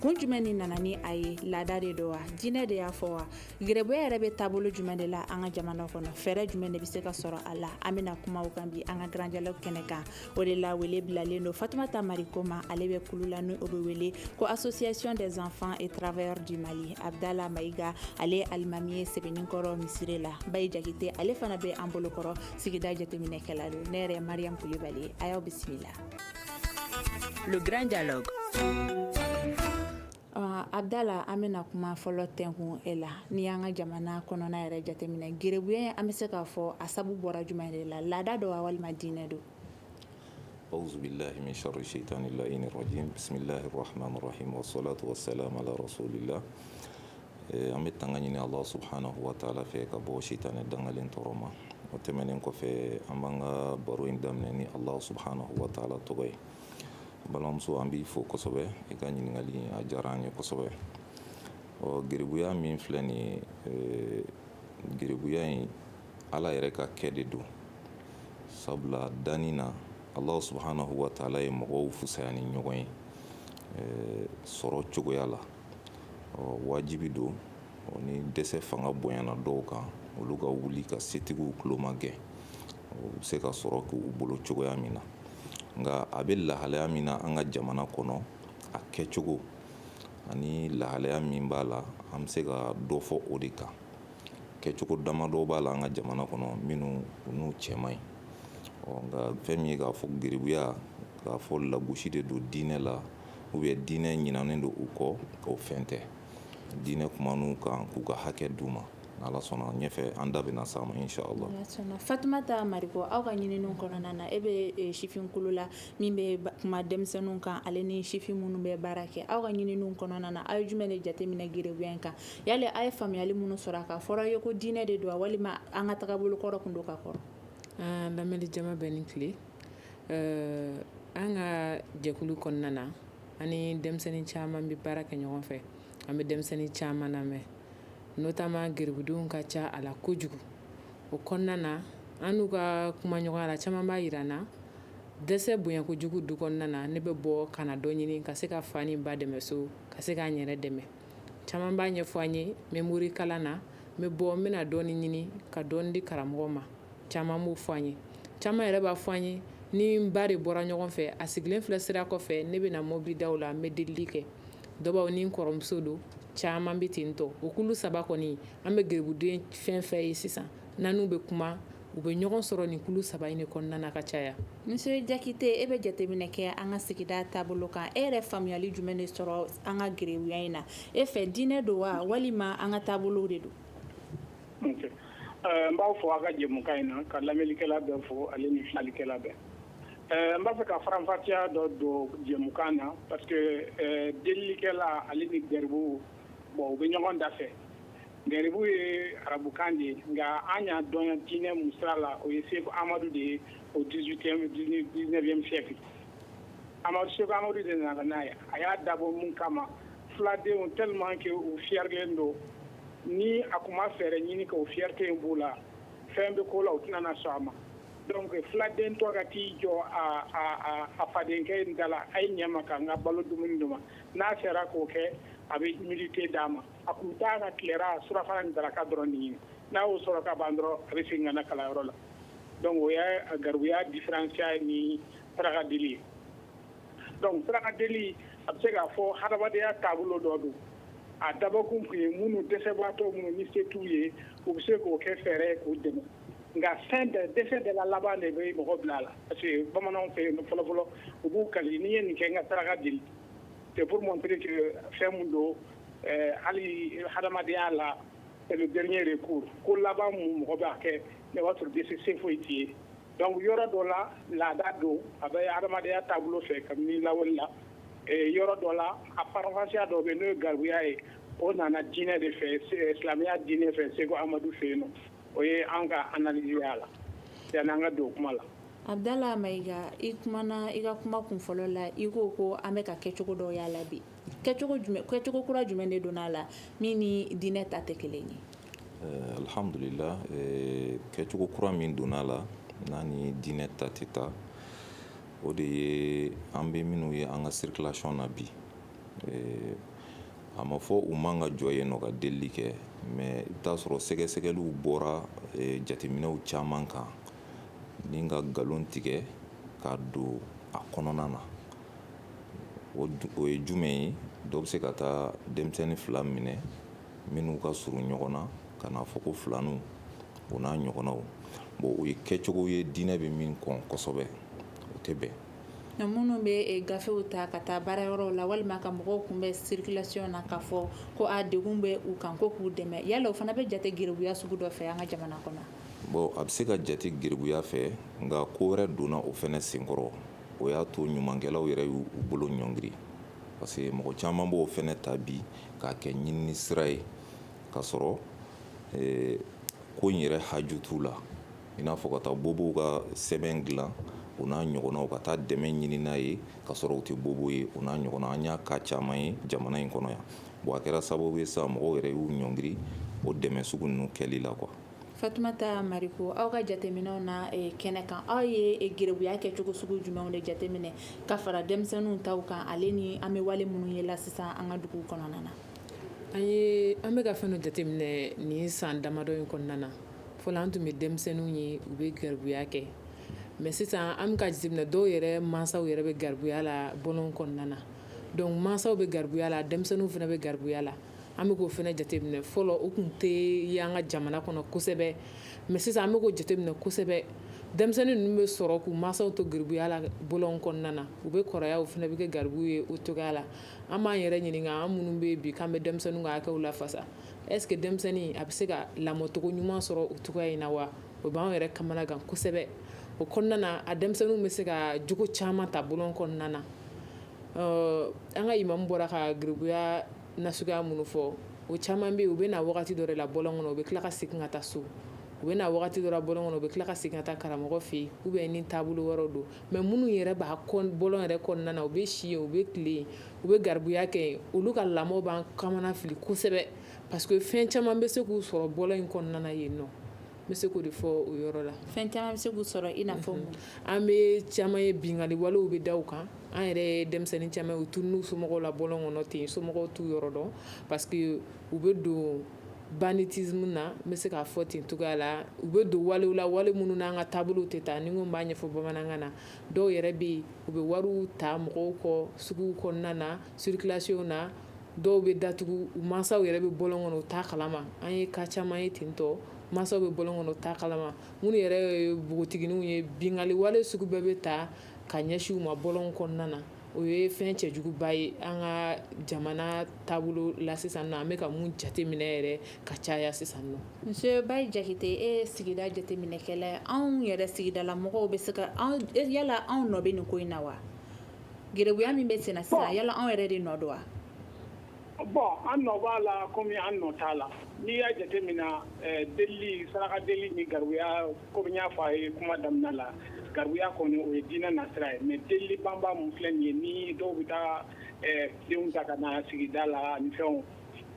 kun jumɛn ni nana ni a ye laada de don wa diinɛ de y'a fɔ wa geribuya yɛrɛ bɛ taabolo jumɛn de la an ka jamana kɔnɔ fɛɛrɛ jumɛn de bɛ se ka sɔrɔ a la an bɛna kuma o kan bi an ka grand dialogue kɛnɛ kan o de la wele bilalen don fatumata mariko ma ale bɛ kulu la ni o bɛ wele ko association des enfants et travailleurs du mali abdala mayiga ale ye alimami ye sɛbɛnninkɔrɔ misiri la bayi jakite ale fana bɛ an bolokɔrɔ sigida jateminɛkɛla don ne yɛrɛ mariam kulibali a y'aw bisimila Le grand dialogue abdala an bɛna kuma fɔlɔ tɛnkun e la n'i y'an ka jamana kɔnɔna yɛrɛ jateminɛ geribuya an bɛ se k'a fɔ a sabu bɔra jumɛn de la laada don wa walima diinɛ don awuzu bilahi min sharri shaytani laini rajim bisimilahi rahmani rahim wa salatu wa salamu ala rasulilah an bɛ tanga ɲini Allah subhanahu wa ta'ala fɛ ka bɔ sitanɛ dangalen tɔɔrɔ ma, o tɛmɛnen kɔfɛ an b'an ka baro in daminɛ ni Allah subhanahu wa ta'ala tɔgɔ ye, balimamuso an b'i fo kosɛbɛ i ka ɲininkali in a diyara an ye kosɛbɛ, ɔ geribuya min filɛ nin ye eh, geribuya in Ala yɛrɛ ka kɛ de don, sabula danni na Allah subhanahu wa ta'ala ye mɔgɔw fusaya ni ɲɔgɔn ye eh, sɔrɔ cogoya la. ɔ wajibi don ni dɛsɛ fanga bonyana dɔw kan olu ka wuli ka setigiw tuloma gɛn u bɛ se ka sɔrɔ k'u bolo cogoya min na nka a bɛ lahalaya min na an ka jamana kɔnɔ a kɛcogo ani lahalaya min b'a la an bɛ se ka dɔ fɔ o de kan kɛcogo damadɔ b'a la an ka jamana kɔnɔ minnu n'u cɛ man ɲi nka fɛn min ye k'a fɔ geribuya k'a fɔ lagosi de don diinɛ la u bɛ diinɛ ɲinanen don u kɔ o fɛn tɛ diinɛ kuman'u kan k'u ka hakɛ d'u ma ala sɔnna ɲɛfɛ an da bɛna s'a ma inshallah fatumata mariko aw ka ɲinini kɔnɔna na e bɛ sifinkulu la min bɛ kuma denmisɛnninw kan ale ni sifin minnu bɛ baara kɛ aw ka ɲinini kɔnɔna na aw ye jumɛn de jateminɛ geribuya in kan yali aw ye faamuyali minnu sɔrɔ a kan fɔra ye ko diinɛ de don wa walima an ka tagabolo kɔrɔ tun don ka kɔrɔ lamɛnni jama bɛɛ ni tile Ɛɛ an ka jɛkulu kɔnɔna na an ni denmisɛnnin caman bɛ baara kɛ ɲɔgɔn fɛ an bɛ denmisɛnnin caman lamɛn notamment geribudenw ka ca a la kojugu o kɔnɔna na an n'u ka kumaɲɔgɔnya la caman b'a yira an na dɛsɛ bonya kojugu du kɔnɔna na ne bɛ bɔ ka na dɔ ɲini ka se ka fa ni ba dɛmɛ so ka se ka n yɛrɛ dɛmɛ caman b'a ɲɛfɔ an ye n bɛ morikalan na n bɛ bɔ n bɛna dɔɔnin ɲini ka dɔɔnin di karamɔgɔ ma caman b'o fɔ an ye caman yɛrɛ b'a fɔ an ye ni n ba de bɔra ɲɔgɔn fɛ a sigilen filɛ sira kɔfɛ ne bɛna mobili daw la n bɛ delili kɛ dɔw ni n kɔrɔmuso don caman bɛ ten tɔ o kulu saba kɔni an bɛ gɛribuden fɛn fɛn ye sisan n'an n'u bɛ kuma u bɛ ɲɔgɔn sɔrɔ nin kulu saba in de kɔnɔna na ka caya Monsieur Jakite e bɛ jateminɛ kɛ an ka sigida taabolo kan e yɛrɛ faamuyali jumɛn de sɔrɔ an ka garibuya in na e fɛ diinɛ don wa walima an ka taabolo de don n b'aw fo aw ka jɛmukan in na ka lamɛnnikɛla bɛɛ fo ani ni filɛlikɛla bɛɛ n b'a fɛ ka faranfasiya dɔ don jɛmukan na parce que delilikɛla ale ni garibu bon u bɛ ɲɔgɔn da fɛ Garibu ye arabukan de ye nka an y'a dɔn diinɛ mun sira la o ye Seku Amadu de ye au dix-huitième dix-neuvième siècle Amadu Seku Amadu de nana n'a ye a y'a dabɔ mun kama filadenw tellement que u fiyɛrilen don ni a tun ma fɛɛrɛ ɲini ka o fierté in b'u la fɛn bɛ ko la u tɛna sɔn a ma donc filaden tɔ ka t'i jɔ a fadenkɛ in da la a ye ɲɛ n ma ka n ka balo dumuni di n ma n'a sera k'o kɛ a bɛ humilité d'a ma a tun t'a ka tilela surafana ni daraka dɔrɔn ɲini n'a y'o sɔrɔ ka ban dɔrɔn a bɛ segin ka na kalanyɔrɔ la donc o y'a garibuya différenciya ni saraka deli ye donc saraka deli a bɛ se k'a fɔ hadamadenya taabolo dɔ don a dabɔkun tun ye minnu dɛsɛbaatɔ minnu ni se t'u ye u bɛ se k'o kɛ fɛɛrɛ ye k'u dɛmɛ nka fɛn bɛɛ dɛsɛ de la laban de bɛ mɔgɔ bila a la parce que bamananw fɛ yen fɔlɔfɔlɔ u b'u kali ni n ye nin kɛ n ka saraka deli c'est pour montrer que fɛn min don Ɛɛ hali hadamadenya la c'est le dernier recours ko laban min mɔgɔ b'a kɛ ne b'a sɔrɔ dɛsɛ se foyi t'i ye donc yɔrɔ dɔ la laada don a bɛ hadamadenya taabolo fɛ kabini lawale la ee yɔrɔ dɔ la a faranfasiya dɔ bɛ yen n'o ye garibuya ye o nana diinɛ de fɛ silamɛya diinɛ fɛ Seko Amadu fɛ yen nɔ o ye an ka analyse ye a la yani an ka don kuma la. Abudala Mayiga i kumana i ka kuma kunfɔlɔ la i ko ko an bɛ ka kɛcogo dɔ y'a la bi. kɛcogo kura jumɛn de donna a la min ni diinɛ ta tɛ kelen ye alihamdulila kɛcogo kura min donna a la n'a ni diinɛ ta tɛ taa o de ye an bɛ minnu ye an ka circulation na bi a ma fɔ u man ka jɔ yen nɔ ka delili kɛ mais i bɛ t'a sɔrɔ sɛgɛsɛgɛliw bɔra jateminɛw caman kan ni ka nkalon tigɛ ka don a kɔnɔna na O ye jumɛn ye dɔ bɛ se ka taa denmisɛnnin fila minɛ minnu ka surun ɲɔgɔn na ka n'a fɔ ko filaninw o n'a ɲɔgɔnnaw bon o ye kɛcogo ye diinɛ bɛ min kɔn kosɛbɛ o tɛ bɛn nka minnu bɛ gafew ta ka taa baarayɔrɔ la walima ka mɔgɔw kunbɛn circulation na k'a fɔ ko a degun bɛ u kan ko k'u dɛmɛ yala o fana bɛ jate geribuya sugu dɔ fɛ an ka jamana kɔnɔ bon a bɛ se ka jate geribuya fɛ nka ko wɛrɛ donna o fana senkɔrɔ o y'a to ɲumankɛlaw yɛrɛ y'u bolo ɲɔngiri parce que mɔgɔ caman b'o fɛnɛ ta bi k'a kɛ ɲinini sira ye k'a sɔrɔ eh, ko in yɛrɛ haju t'u la i n'a fɔ ka taa bobow ka sɛbɛn dilan o n'a ɲɔgɔnnaw ka taa dɛmɛ ɲini n'a ye k'a sɔrɔ u tɛ bobo ye o n'a ɲɔgɔnna an y'a ka caman ye jamana in kɔnɔ yan bon a kɛra sababu ye sa mɔgɔw yɛrɛ y'u ɲɔngiri o dɛmɛ sugu ninnu kɛli la quoi Fatumata Mariko aw ka jateminɛw na kɛnɛ kan aw ye geribuya kɛcogo sugu jumɛnw de jateminɛ ka fara denmisɛnninw taw kan ale ni an bɛ wale minnu ye la sisan an ka dugu kɔnɔna na an an bɛ ka fɛnw jateminɛ nin san damadɔ in kɔnɔna na fɔlɔ an tun bɛ denmisɛnninw ye u bɛ garibuya kɛ mais sisan an bɛ ka jateminɛ dɔw yɛrɛ masaw yɛrɛ bɛ garibuya la bɔlɔn kɔnɔna na donc masaw bɛ garibuya la denmisɛnninw fana bɛ garibuya la an bɛ k'o fana jateminɛ fɔlɔ o tun tɛ ye an ka jamana kɔnɔ kosɛbɛ mais sisan an bɛ k'o jateminɛ kosɛbɛ denmisɛnnin ninnu bɛ sɔrɔ k'u mansaw to garibuya la bɔlɔn kɔnɔna na u bɛ kɔrɔya u fana bɛ kɛ garibu ye o cogoya la an b'an yɛrɛ ɲininka an minnu bɛ bi an bɛ denmisɛnninw ka hakɛw lafasa est-ce que denmisɛnnin a bɛ se ka lamɔcogo ɲuman sɔrɔ o cogoya in na wa o b'an yɛrɛ kamana gan kosɛbɛ o kɔnɔna na a denmisɛnnin bɛ se ka jogo caman ta bɔlɔn kɔnɔna na an ka imamu bɔra ka garibuya nasuguya minnu fɔ o caman bɛ yen u bɛ na wagati dɔ la bɔlɔn kɔnɔ u bɛ tila ka segin ka taa so u bɛ na wagati dɔ la bɔlɔn kɔnɔ u bɛ tila ka segin ka taa karamɔgɔ fɛ yen ou bien ni taabolo wɛrɛ don mais minnu yɛrɛ bɛ bɔlɔn yɛrɛ kɔnɔna na u bɛ si yen u bɛ tilen yen u bɛ garibuya kɛ yen olu ka lamɔ b'an kamana fili kosɛbɛ parce que fɛn caman bɛ se k'u sɔrɔ bɔlɔn in kɔnɔna na yen nɔ bɛ se k'o de fɔ o yɔrɔ la fɛn caman bɛ se k'u sɔrɔ i n'a fɔ an bɛ caman ye binkanli walew bɛ da u kan an yɛrɛ ye denmisɛnnin caman ye u tununn'u somɔgɔw la bɔlɔn kɔnɔ ten somɔgɔw t'u yɔrɔ dɔn parce que u bɛ don banditisme na n bɛ se k'a fɔ ten cogoya la u bɛ don walew la wale minnu n'an ka taabolo tɛ taa ni n ko n b'a ɲɛfɔ bamanankan na dɔw yɛrɛ bɛ yen u bɛ wariw ta mɔgɔw kɔ sugu kɔnɔna na circulation na dɔw bɛ datugu u mansaw yɛrɛ bɛ bɔlɔn kɔnɔ u t'a kalama an ye ka caman ye ten dɔ mansaw bɛ bɔlɔn kɔnɔ u t'a kalama minnu yɛrɛ ye npogotigininw ye bingali wale sugu bɛɛ bɛ ta ka ɲɛsin u ma bɔlɔn kɔnɔna na o ye fɛn cɛjuguba ye an ka jamana taabolo la sisan nɔ an bɛ ka mun jateminɛ yɛrɛ ka caya sisan nɔ Monsieur Ba Jakite e ye sigida jateminɛkɛla ye anw yɛrɛ sigidala mɔgɔw bɛ se ka yala anw nɔ bɛ nin ko in na wa Geribuya min bɛ sen na sisan yala anw yɛrɛ de nɔ don wa bon an nɔ b'a la kɔmi an nɔ t'a la n'i y'a jateminɛ delili saraka deli ni garibuya kɔmi n y'a fɔ a ye kuma daminɛ la garibuya kɔni o ye diinɛ nasira ye mais delili banba min filɛ nin ye ni dɔw bɛ taa denw ta ka na sigi da la ani fɛnw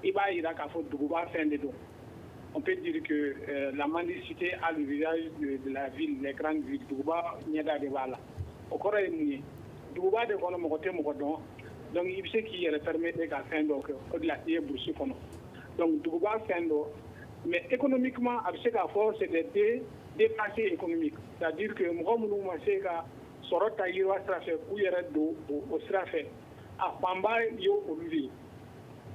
i b'a jira k'a fɔ duguba fɛn de don on peut dire que la mendicité a le visage de la ville les grandes villes duguba ɲɛda de b'a la o kɔrɔ ye mun ye duguba de kɔnɔ mɔgɔ tɛ mɔgɔ dɔn donc i bɛ se k'i yɛrɛ permettre ka fɛn dɔw kɛ o de la i ye burusi kɔnɔ donc duguba fɛn don mais économiquement a bɛ se k'a fɔ c'est des dépassés économiques c'est-à-dire que mɔgɔ minnu ma se ka sɔrɔ ta yiriwa sira fɛ k'u yɛrɛ don o sira fɛ a fanba ye olu de ye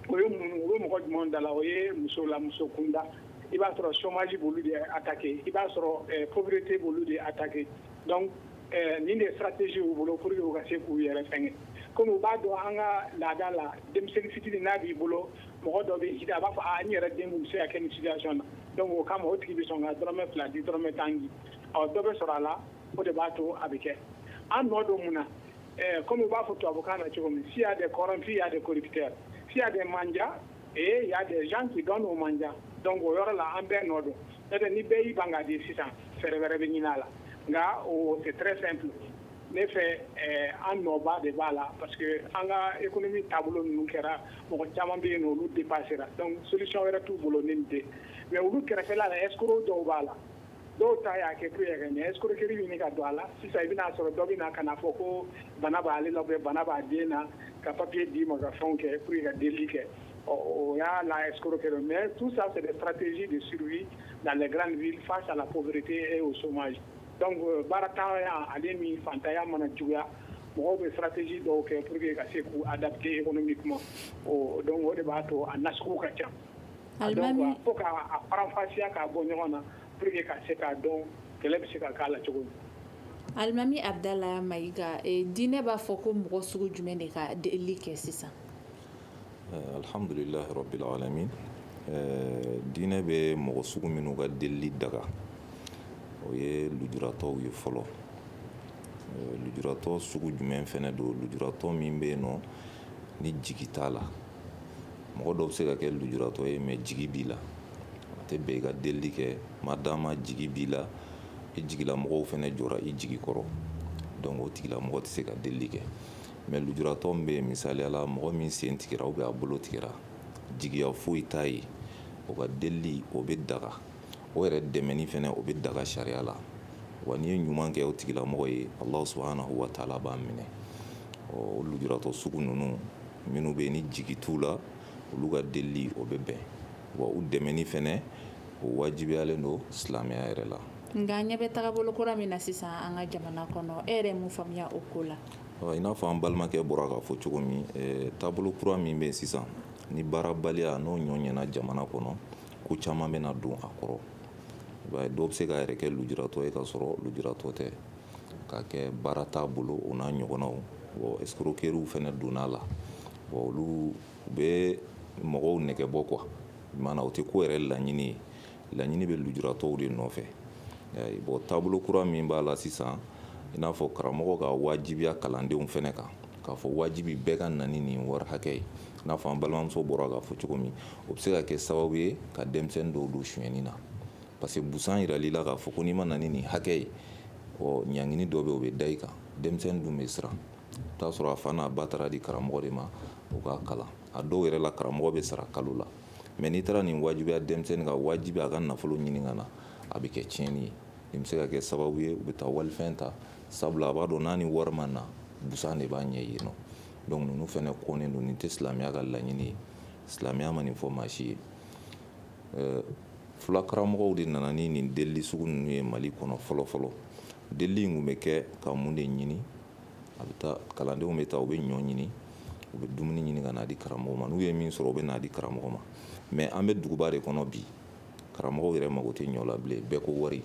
o ye mun o ye mɔgɔ jumɛn da la o ye muso la muso kunda i b'a sɔrɔ chômage b'olu de attaquer i b'a sɔrɔ pauvreté b'olu de attaquer donc nin de stratégie y'u bolo pour que u ka se k'u yɛrɛ fɛnkɛ comme u b'a dɔn an ka laada la denmisɛnnin fitinin n'a b'i bolo mɔgɔ dɔ bɛ a b'a fɔ a n yɛrɛ den bɛ se ka kɛ nin situation na donc o kama o tigi bɛ sɔn ka dɔrɔmɛ fila di dɔrɔmɛ tan di ɔ dɔ bɛ sɔrɔ a la o de b'a to a bɛ kɛ an nɔ don mun na comme u b'a fɔ tubabukan na cogo min si y'a des corrompus y'a des corrupteurs si y'a des mendiants ee y'a des gens qui donnent aux mendiants donc o yɔrɔ la an bɛɛ nɔ don n'o tɛ ni bɛɛ y'i ban ka di sisan fɛɛrɛ wɛrɛ bɛ ɲini a la nka o c'est très simple ne fɛ eh, an nɔba de b'a la parce que an ka économie taabolo ninnu kɛra mɔgɔ caman bɛ yen nɔ olu dépassera donc solution wɛrɛ t'u bolo ni nin tɛ mais olu kɛrɛfɛla la escroc dɔw b'a la dɔw ta y'a kɛ ko yɛrɛ ɲɛ escroc kiri bɛ ɲini ka don a la sisan i bɛna'a sɔrɔ dɔ bɛ na kanaa fɔ ko bana b'ale la bɛ bana b'a den na ka papi d'i ma ka fɛnw kɛ kuru ka deli kɛ ɔ o y'a la escroc kiri mɛ tu san sɛ paratesi de siri na lajɛgra nin fa sa la koberete e o soma baara taama yan ale min fatanya mana juguya mɔgɔw bɛ paratesi dɔw kɛ pur que ka se k'u a dase e kɔnɔ min kuma o dɔn o de b'a to a nas ka ca donc fo k'a faranfasiya k'a bɔ ɲɔgɔn na pour que ka se k'a dɔn kɛlɛ bɛ se ka k'a la cogo min alimami Abudulayi Mayiga diinɛ b'a fɔ ko mɔgɔ sugu jumɛn de ka delili kɛ sisan alihamudulila rabil alamin diinɛ bɛ mɔgɔ sugu minnu ka delili daga o ye lujuratɔw ye fɔlɔ lujuratɔ sugu jumɛn fɛnɛ don lujuratɔ min bɛ yen nɔ ni jigi t'a la mɔgɔ dɔw bɛ se ka kɛ lujuratɔ ye mais jigi b'i la a tɛ bɛn i ka delili kɛ madama jigi b'i la i jigilamɔgɔw fɛnɛ jɔra i jigi kɔrɔ donc o tigilamɔgɔ tɛ se ka delili kɛ mais lujuratɔ min bɛ yen misaliya la mɔgɔ min sen tigɛra ou bien a bolo tigɛra jigiya foyi t'a ye o ka delili o bɛ daga o yɛrɛ dɛmɛni fɛnɛ o bɛ daga sariya la wa n'i ye ɲuman kɛ o tigilamɔgɔ ye Ala subhanahu wa ta'ala b'a minɛ o lujuratɔ sugu ninnu minnu bɛ ni jigi t'u la olu ka delili o bɛ bɛn wa u dɛmɛni fɛnɛ o wajibiyalen don silamɛya yɛrɛ la nka ɲɛ bɛ tagabolo kura min na sisan an ka jamana kɔnɔ e yɛrɛ mun faamuya o ko la i n'a fɔ an balimakɛ bɔra k'a fɔ cogo min taabolo kura min bɛ sisan ni baarabaliya n'o ɲɔgɔnna jamana kɔnɔ ko caman bɛna don a kɔrɔ dɔw bɛ se k'u yɛrɛ kɛ lujuratɔ ye k'a sɔrɔ lujuratɔ tɛ K'a kɛ baara t'a bolo o n'a ɲɔgɔnnaw bon escroqueriew fɛnɛ donna a la bon olu bɛ mɔgɔw nɛgɛ bɔ quoi i m'a ye o tɛ ko yɛrɛ laɲini ye laɲini bɛ lujuratɔw de nɔfɛ bon taabolo kura min b'a la sisan i n'a fɔ karamɔgɔ k'a wajibiya kalandenw fɛnɛ kan k'a fɔ wajibi bɛɛ ka na ni nin wari hakɛ ye i n'a fɔ an balimamuso bɔra k'a fɔ cogo min o bɛ se ka kɛ sababu ye ka denmisɛnnin dɔw don sonyɛni na parce que busan yirali la k'a fɔ ko n'i ma na ni nin hakɛ ye ɔ ɲangini dɔ bɛ o bɛ da i kan denmisɛnnin dun bɛ siran t'a sɔrɔ a fa n'a ba taar'a di karamɔgɔ de ma o k'a kalan a dɔw yɛrɛ la karamɔgɔ bɛ sara kalo la mais n'i taara nin wajibiya denmisɛnnin kan wajibi a ka nafolo ɲini ka na a bɛ kɛ tiɲɛni ye nin bɛ se ka kɛ sababu ye u bɛ taa walifɛn ta sabula a b'a dɔn n'a ni wari ma na busan de b'a ɲɛ yen nɔ donc ninnu fɛnɛ kɔnnen don nin tɛ silamɛya ka laɲini ye silamɛya ma nin fɔ maa si ye Fulakaramɔgɔw de nana ni nin delili sugu ninnu ye Mali kɔnɔ fɔlɔ fɔlɔ delili tun bɛ kɛ ka mun de ɲini a bɛ taa kalandenw bɛ taa u bɛ ɲɔ ɲini u bɛ dumuni ɲini ka n'a di karamɔgɔ ma n'u ye min sɔrɔ u bɛ n'a di karamɔgɔ ma mais an bɛ duguba de kɔnɔ bi karamɔgɔ yɛrɛ mako tɛ ɲɔ la bilen bɛɛ ko wari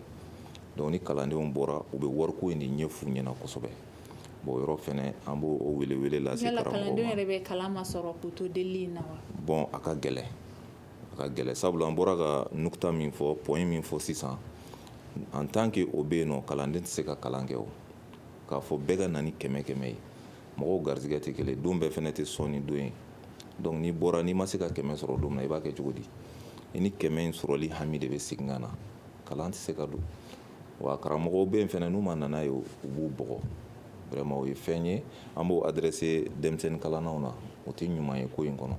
ni kalandenw bɔra u bɛ wari ko in de ɲɛf'u ɲɛna kosɛbɛ bon yɔrɔ fɛnɛ an b'o welewele lase karamɔgɔw ma yala kalandenw yɛrɛ bɛ kalan masɔrɔ k'u to delili in na wa bon a ka gɛlɛn ka gɛlɛn sabula an bɔra ka nukuta min fɔ point min fɔ sisan en tant que o bɛ yen nɔ kalanden tɛ se ka kalan kɛ o k'a fɔ bɛɛ ka na ni kɛmɛ kɛmɛ ye mɔgɔw garijɛgɛ tɛ kelen don bɛɛ fɛnɛ tɛ sɔnni don ye donc n'i bɔra n'i ma se ka kɛmɛ sɔrɔ don min na i b'a kɛ cogo di i ni kɛmɛ in sɔrɔli hami de bɛ segin ka na kalan tɛ se ka don wa karamɔgɔw bɛ yen fɛnɛ n'u ma na n'a ye u b'u bugɔ vraiment o ye fɛn ye an b'o adresser denmisɛnnin kalannaw na o tɛ ɲuman ye ko in kɔnɔ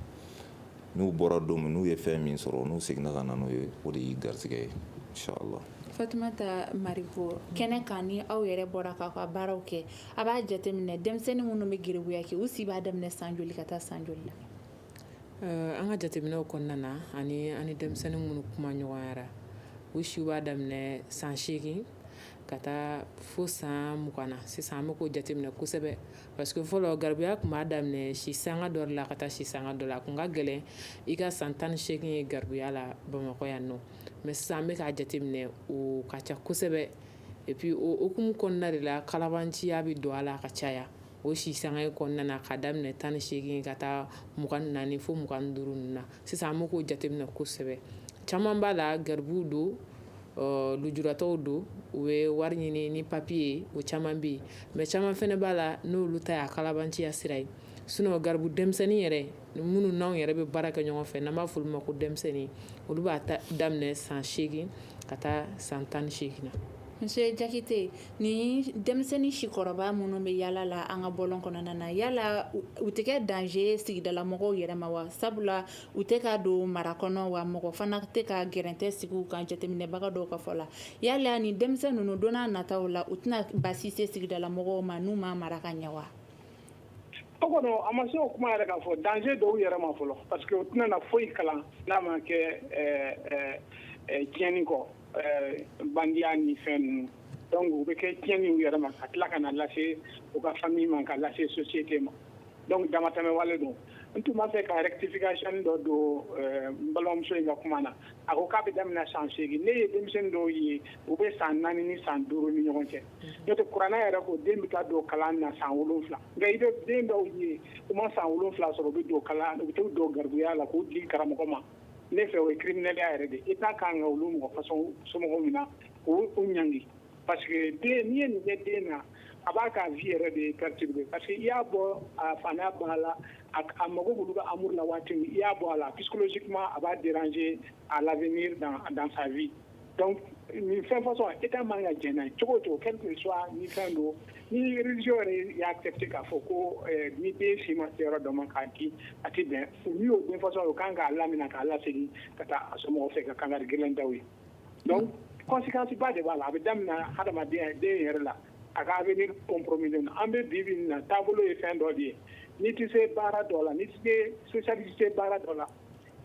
n'u bɔra don min n'u ye fɛn min sɔrɔ n'u seginna ka na n'o ye o de y'i garisɛgɛ ye inshallah Fatumata Mariko kɛnɛ kan ni aw yɛrɛ bɔra k'aw ka baaraw kɛ a b'a jateminɛ denmisɛnnin minnu bɛ garibuya kɛ u si b'a daminɛ san joli ka taa san joli la eh, an ka jateminɛw kɔnɔna na ani ani denmisɛnnin minnu kuma ɲɔgɔnyara u si b'a daminɛ san seegin ka taa fo san mugan na sisan an bɛ k'o jateminɛ kosɛbɛ Parce que fɔlɔ garibuya tun b'a daminɛ si sanga dɔ la ka taa si sanga dɔ la a tun ka gɛlɛn i ka san tan ni seegin ye garibuya la Bamakɔ yan nɔ mais sisan an bɛ k'a jateminɛ o ka ca kosɛbɛ et puis o hukumu kɔnɔna de la kalabanciya bɛ don a la a ka caya o si sanga kɔnɔna na ka daminɛ tan ni seegin ka taa mugan ni naani fo mugan ni duuru na sisan an bɛ k'o jateminɛ kosɛbɛ caman b'a la garibuw don ɔ lujuratɔw don u bɛ wari ɲini ni papiye ye o caman bɛ yen mais caman fana b'a la n'olu ta y'a kalabanciya sira ye sinon garibu denmisɛnnin yɛrɛ minnu n'anw yɛrɛ bɛ baara kɛ ɲɔgɔn fɛ n'an b'a fɔ olu ma ko denmisɛnnin olu b'a daminɛ san seegin ka taa san tan ni seegin na monsieur jakite ni denmisɛnnin sikɔrɔba minnu bɛ yaala la an ka bɔlɔn kɔnɔna na yala u tɛ kɛ danger sigidala mɔgɔw yɛrɛ ma wa sabula U tɛ ka don mara kɔnɔ wa mɔgɔ fana tɛ ka gɛrɛntɛ sigi u kan jateminɛbaga dɔw ka fɔ la yala ni denmisɛn ninnu don nataw la u tɛna basi se sigidala mɔgɔw ma n'u ma mara ka ɲɛ wa o kɔnɔ a ma se o kuma yɛrɛ k'a fɔ danger don u yɛrɛ ma fɔlɔ parce que u tɛna na foyi kalan n'a ma kɛ tiɲɛni kɔ bandiya ni fɛn ninnu donc u bɛ kɛ tiɲɛni u yɛrɛ ma ka tila ka na lase u ka famille ma ka lase société ma donc damatɛmɛ wale don n tun b'a fɛ ka rectification dɔ don n balimamuso in ka kuma na a ko k'a bɛ daminɛ san seegin ne ye denmisɛnnin dɔw ye u bɛ san naani ni san duuru ni ɲɔgɔn cɛ n'o tɛ kuranɛ yɛrɛ ko den bɛ taa don kalan na san wolonwula nka i bɛ den dɔw ye u ma san wolonwula sɔrɔ u bɛ don kalan u bɛ t'u don garibuya la k'u di karamɔgɔ ma ne fɛ o ye criminelya yɛrɛ de État ka kan ka olu mɔgɔ façon somɔgɔw minɛ k'u ɲ Pa den ni ye nin den na a b'a k'a ji yɛrɛ de ye kari pa que i y'a bɔ a fa n'a bɔ a la a mago olu bɛ amadu la waati i y'a bɔ a la pkisi kuma a b'a jɛ a la mi dan a dan sanbi nin fɛn fasɔn e ka man ka jɛnɛ cogo cogo kɛ tun su ni fɛn don nirez yɛrɛ y'a kɛ ten k'a fɔ ko ni den si ma se yɔrɔ dɔ ma k'a di a tɛ bɛn u y'o den fasɔn o kan k'a lamina k'a lase ka taa a so fɛ ka kanga gɛlɛn da ye Donc conséquence ba de b'a la a bɛ daminɛ hadamadenya den yɛrɛ la a ka avenir compromis na an bɛ bi bi in na taabolo ye fɛn dɔ de ye n'i tɛ se baara dɔ la n'i tɛ se spécialité baara dɔ la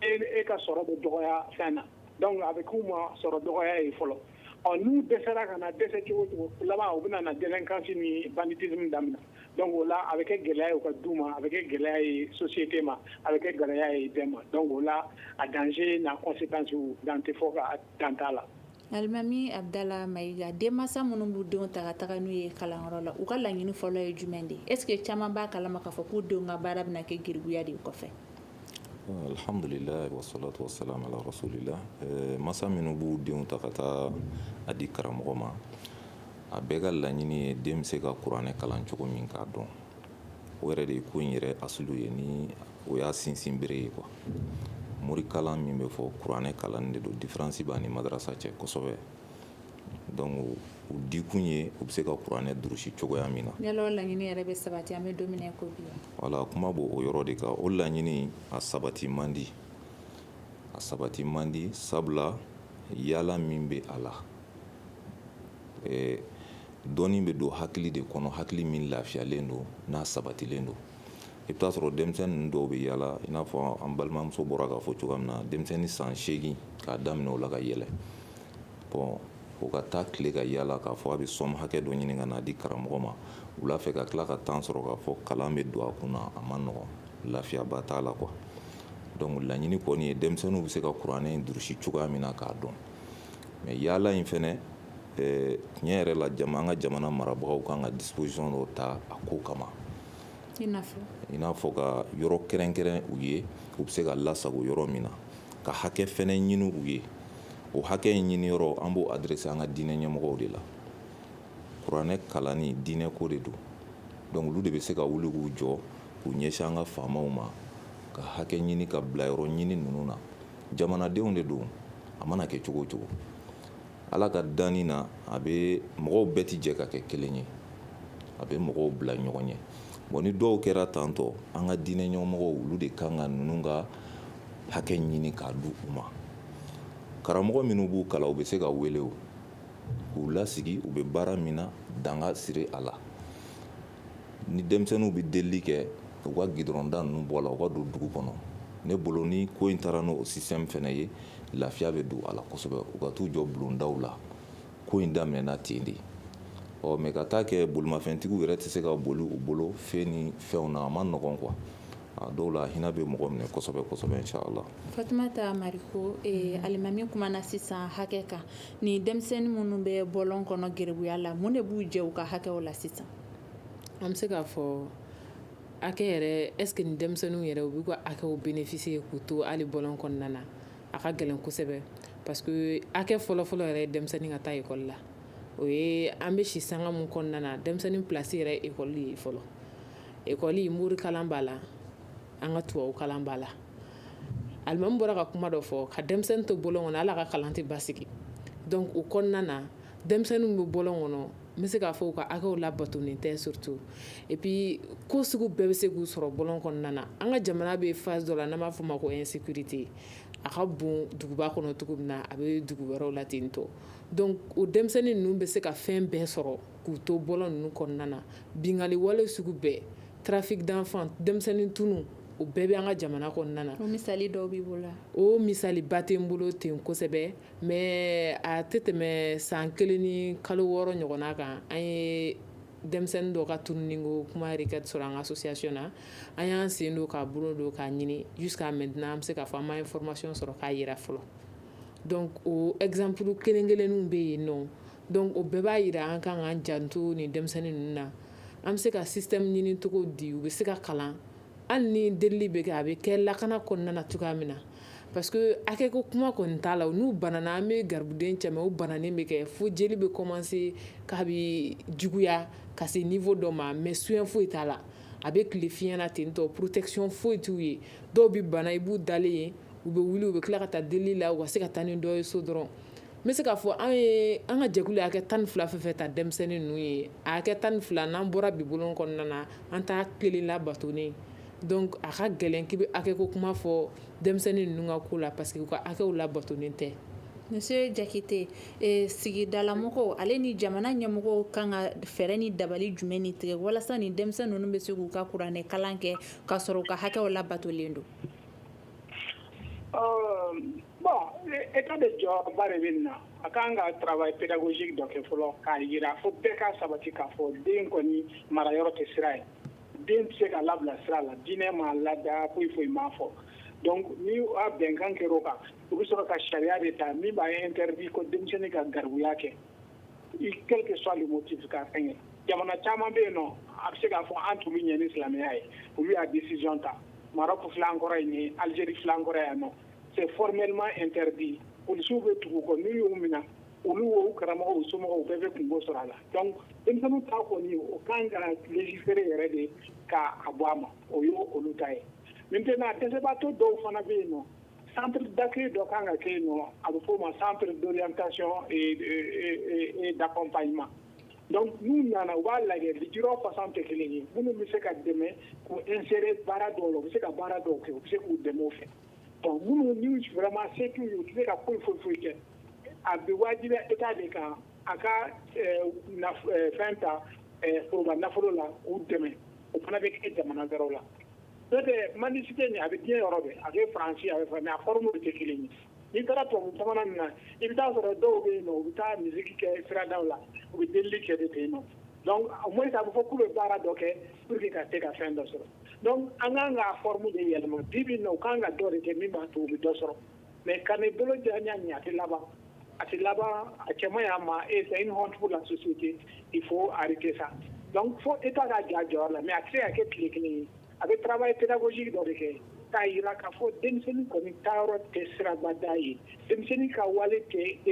e e ka sɔrɔ bɛ dɔgɔya fɛn na donc a bɛ k'u ma sɔrɔ dɔgɔya ye fɔlɔ ɔ n'u dɛsɛra ka na dɛsɛ cogo o cogo laban u bɛna na délinquance ni banditisme daminɛ donc o la a bɛ kɛ gɛlɛya ye u ka du ma, a bɛ kɛ gɛlɛya ye société ma, a bɛ kɛ gɛlɛya ye bɛɛ ma donc o la a danger n'a conséquence dan tɛ fɔ ka dan t'a la. Alimami Abudala Mayiga, denmansa minnu b'u denw ta ka taga n'u ye kalanyɔrɔ la, u ka laɲini fɔlɔ ye jumɛn de ye? Est ce que caman b'a kalama k'a fɔ k'u denw ka baara bɛna kɛ geribuya de ye kɔfɛ? Alhamdulilahi wa salatu wa salam ala rasulila, ɛɛ mansa minnu b'u denw ta ka taa a di karamɔgɔ ma, A bɛɛ ka laɲini ye den bɛ se ka kuranɛ kalan cogo min k'a dɔn o yɛrɛ de ye ko in yɛrɛ asili ye ni o y'a sinsin bere ye kuwa morikalan min bɛ fɔ kuranɛ kalan de don difiransi b'a ni madarasa cɛ kosɛbɛ dɔnku u dikun ye u bɛ se ka kuranɛ durusi cogoya min na yala o laɲini yɛrɛ bɛ sabati an bɛ don min na ko bi wala kuma b'o yɔrɔ de kan o laɲini a sabati man di a sabati man di sabula yaala min bɛ a la Ee dɔnni bɛ don hakili de kɔnɔ hakili min lafiyalen don n'a sabatilen don i bɛ t'a sɔrɔ denmisɛnnin dɔw bɛ yaala i n'a fɔ an balimamuso bɔra k'a fɔ cogoya min na denmisɛnnin san segin k'a daminɛ o la ka yɛlɛ bon o ka taa tile ka yaala k'a fɔ a bɛ sɔmu hakɛ dɔ ɲini ka na a di karamɔgɔ ma wula fɛ ka tila ka tan sɔrɔ k'a fɔ kalan bɛ don a kun na a ma nɔgɔn lafiyaba t'a la kuwa dɔnku laɲini kɔni ye denmisɛnninw bɛ se ka kuranɛ durusi cogoya min na k'a dɔn mɛ yaala in fɛnɛ tiɲɛ yɛrɛ la an ka jamana marabagaw kan ka disipozisɔn dɔ ta a ko kama i n'a fɔ ka yɔrɔ kɛrɛnkɛrɛn u ye u bɛ se ka lasago yɔrɔ min na ka hakɛ fɛnɛ ɲini u ye o hakɛ in ɲini yɔrɔ an b'o adɛrɛse an ka diinɛ ɲɛmɔgɔw de la kuranɛ kalan ni diinɛ ko de don dɔnku olu de bɛ se ka wuli k'u jɔ k'u ɲɛsin an ka faamaw ma ka hakɛ ɲini ka bila yɔrɔ ɲini ninnu na jamanadenw de don a mana kɛ cogo o cogo ala ka danni na a bɛ mɔgɔw bɛɛ tɛ jɛ ka kɛ kelen ye a bɛ mɔgɔw bila ɲɔgɔn ɲɛ bon ni dɔw kɛra tantɔ an ka diinɛ ɲɛmɔgɔw olu de kan ka ninnu ka hakɛ ɲini k'a di u ma karamɔgɔ minnu b'u kalan u bɛ se ka wele o k'u lasigi u bɛ baara min na dan ka sigi a la ni denmisɛnninw bɛ delili kɛ u ka gidɔrɔnda ninnu bɔ a la u ka don dugu kɔnɔ ne bolo ni ko in taara n'o sisitɛmu fɛnɛ ye lafiya bɛ don a la kosɛbɛ u ka t'u jɔ bulondaw la ko in daminɛna ten de ɔ mɛ ka taa kɛ bolimafɛntigiw yɛrɛ tɛ se ka boli u bolo fɛn ni fɛnw na a ma nɔgɔn kuwa a dɔw la hinɛ bɛ mɔgɔ minɛ kosɛbɛ kosɛbɛ la fatumata mariko alimami kumana sisan hakɛ kan Ni denmisɛnnin minnu bɛ bɔlɔn kɔnɔ garibuya la mun de b'u jɛ u ka hakɛ la sisan an bɛ se k'a fɔ hakɛ yɛrɛ ɛsike ni denmisɛnninw yɛrɛ u b'u ka hakɛw benefisiye k'u to hali bɔlɔn kɔnɔna na a ka gɛlɛn kosɛbɛ pasike hakɛ fɔlɔfɔlɔ yɛrɛ ye denmisɛnnin ka taa ekɔli la o ye an bɛ si sanga min kɔnɔna na denmisɛnnin plasi yɛrɛ ekɔli ye fɔlɔ ekɔli morikalan b'a la an ka tubabu kalan b'a la alimami bɔra ka kuma dɔ fɔ ka denmisɛnnin to bɔlɔn kɔnɔ ala ka kalan tɛ basigi donc o kɔnɔna na denmisɛnnin bɛ bɔlɔn kɔnɔ n bɛ se k'a fɔ u ka hakɛw labatonen tɛ surtout et puis ko sugu bɛɛ bɛ se k'u sɔrɔ bɔlɔn kɔnɔna na an ka jamana bɛ phase dɔ la n'an b'a f'o ma ko insécurité a ka bon duguba kɔnɔ cogo min na a bɛ dugu wɛrɛw la ten tɔ donc o denmisɛnnin ninnu bɛ se ka fɛn bɛɛ sɔrɔ k'u to bɔlɔn ninnu kɔnɔna na bingali wale sugu bɛɛ trafic d'enfants denmisɛnnin tunu o bɛɛ bɛ an ka jamana kɔnɔna na o misali dɔw b'i bolo o misaliba tɛ n bolo ten kosɛbɛ mais a tɛ tɛmɛ san kelen ni kalo wɔɔrɔ ɲɔgɔnna kan an ye denmisɛnnin dɔ ka tununi ko kuma requête sɔrɔ an ka association na an y'an sen don k'an bolo don k'a ɲini jusqu'à maintenant an bɛ se k'a fɔ an ma information sɔrɔ k'a yira fɔlɔ donc o exemple kelen kelenninw bɛ yen nɔ donc o bɛɛ b'a yira an kan k'an janto nin denmisɛnnin ninnu na an bɛ se ka système ɲini cogo di u bɛ se ka kalan hali ni deli bɛ kɛ a bɛ kɛ lakana kɔnɔna na cogoya min na parce que hakɛ ko kuma kɔni t'a la n'u banana an bɛ garibuden cɛ u bananen bɛ kɛ fo jeli bɛ commencer k'a bɛ juguya ka se niveau dɔ ma mais soin foyi t'a la a bɛ tile fiɲɛ na ten tɔ protection foyi t'u ye dɔw bɛ bana i b'u dalen ye u bɛ wuli u bɛ tila ka taa deli la u ka se ka taa ni dɔ ye so dɔrɔn N bɛ se k'a fɔ an ye an ka jɛkulu ye hakɛ tan ni fila fɛn fɛn ta denmisɛnnin ninnu ye hakɛ tan ni fila n'an bɔra bi bɔlɔn kɔnɔna na an t'a kelen labatonen donc a ka gɛlɛn k'i bɛ hakɛ ko kuma fɔ denmisɛnnin ninnu ka ko la parce que u ka hakɛw labatonen tɛ monsieur Jakite sigidalamɔgɔw ale ni jamana ɲɛmɔgɔw kan ka fɛɛrɛ ni dabali jumɛn ni tigɛ walasa nin denmisɛnnin ninnu bɛ se k'u ka kuranɛkalan kɛ k'a sɔrɔ u ka hakɛw labatolen don Etat de jɔyɔrɔba de bɛ nin na a kan ka travail pédagogique dɔ kɛ fɔlɔ k'a yira fo bɛɛ ka sabati k'a fɔ den kɔni marayɔrɔ tɛ sira ye den tɛ se ka labila sira la diinɛ m'a lada foyi foyi m'a fɔ donc ni a bɛnkan kɛra o kan u bɛ sɔrɔ ka sariya de ta min b'a interdit ko denmisɛnnin ka garibuya kɛ i quel que soit le motif ka fɛngɛ jamana caman bɛ yen nɔ a bɛ se k'a fɔ an t'olu ɲɛ ni silamɛya ye olu y'a décision ta Maroc filɛ an kɔrɔ yen ni Algérie filɛ an kɔrɔ yan nɔ c'est formellement interdit policiers bɛ tugu u kɔ n'u y'u minɛ olu o u karamɔgɔw o u somɔgɔw bɛɛ bɛ kunko sɔrɔ a la donc denmisɛnninw ta kɔni o kan ka légiférer yɛrɛ de k'a bɔ a ma o ye olu ta ye maintenant dɛsɛbaatɔ dɔw fana bɛ yen nɔ Centre d'accueil dɔ kan ka kɛ yen nɔ, a bɛ f'o ma centre d'orientation et d'accompagnement donc n'u nana u b'a lajɛ lujura façon tɛ kelen ye minnu bɛ se ka dɛmɛ k'u insérer baara dɔw la, u bɛ se ka baara dɔw kɛ, u bɛ se k'u dɛmɛ o fɛ bon minnu ni vraiment se t'u ye, u tɛ se ka foyi foyi foyi kɛ, a bɛ wajibiya Etat de kan a ka fɛn ta foroba nafolo la k'u dɛmɛ o fana bɛ kɛ jamana wɛrɛw la. mendicité nin a bɛ diɲɛ yɔrɔ bɛɛ a bɛ faransi a bɛ a forme tɛ kelen ye n'i taara tubabu jamana nin na i bɛ taa a sɔrɔ dɔw bɛ yen u bɛ taa musique kɛ siradaw la u bɛ deli kɛ de ten yen nɔ donc au moins a bɛ fɔ k'u bɛ baara dɔ kɛ pour que ka se ka fɛn dɔ sɔrɔ donc an kan ka forme de yɛlɛma bi bi in na u kan ka dɔ de kɛ min b'a to u bɛ dɔ sɔrɔ mɛ ka bolo jɔ ɲɛ ɲɛ a tɛ laban a tɛ laban a cɛ y'a ma e fɛ i niɔntigiw la soso i fo ari tɛ sa fo e t'a ka ja jɔ la mɛ a tɛ' kɛ tile kelen ye a bɛ tarawelela i tɛbuguji dɔ de kɛ k'a jira k'a fɔ denmisɛnnin kɔni taayɔrɔ tɛ sirabada ye denmisɛnnin ka wale tɛ e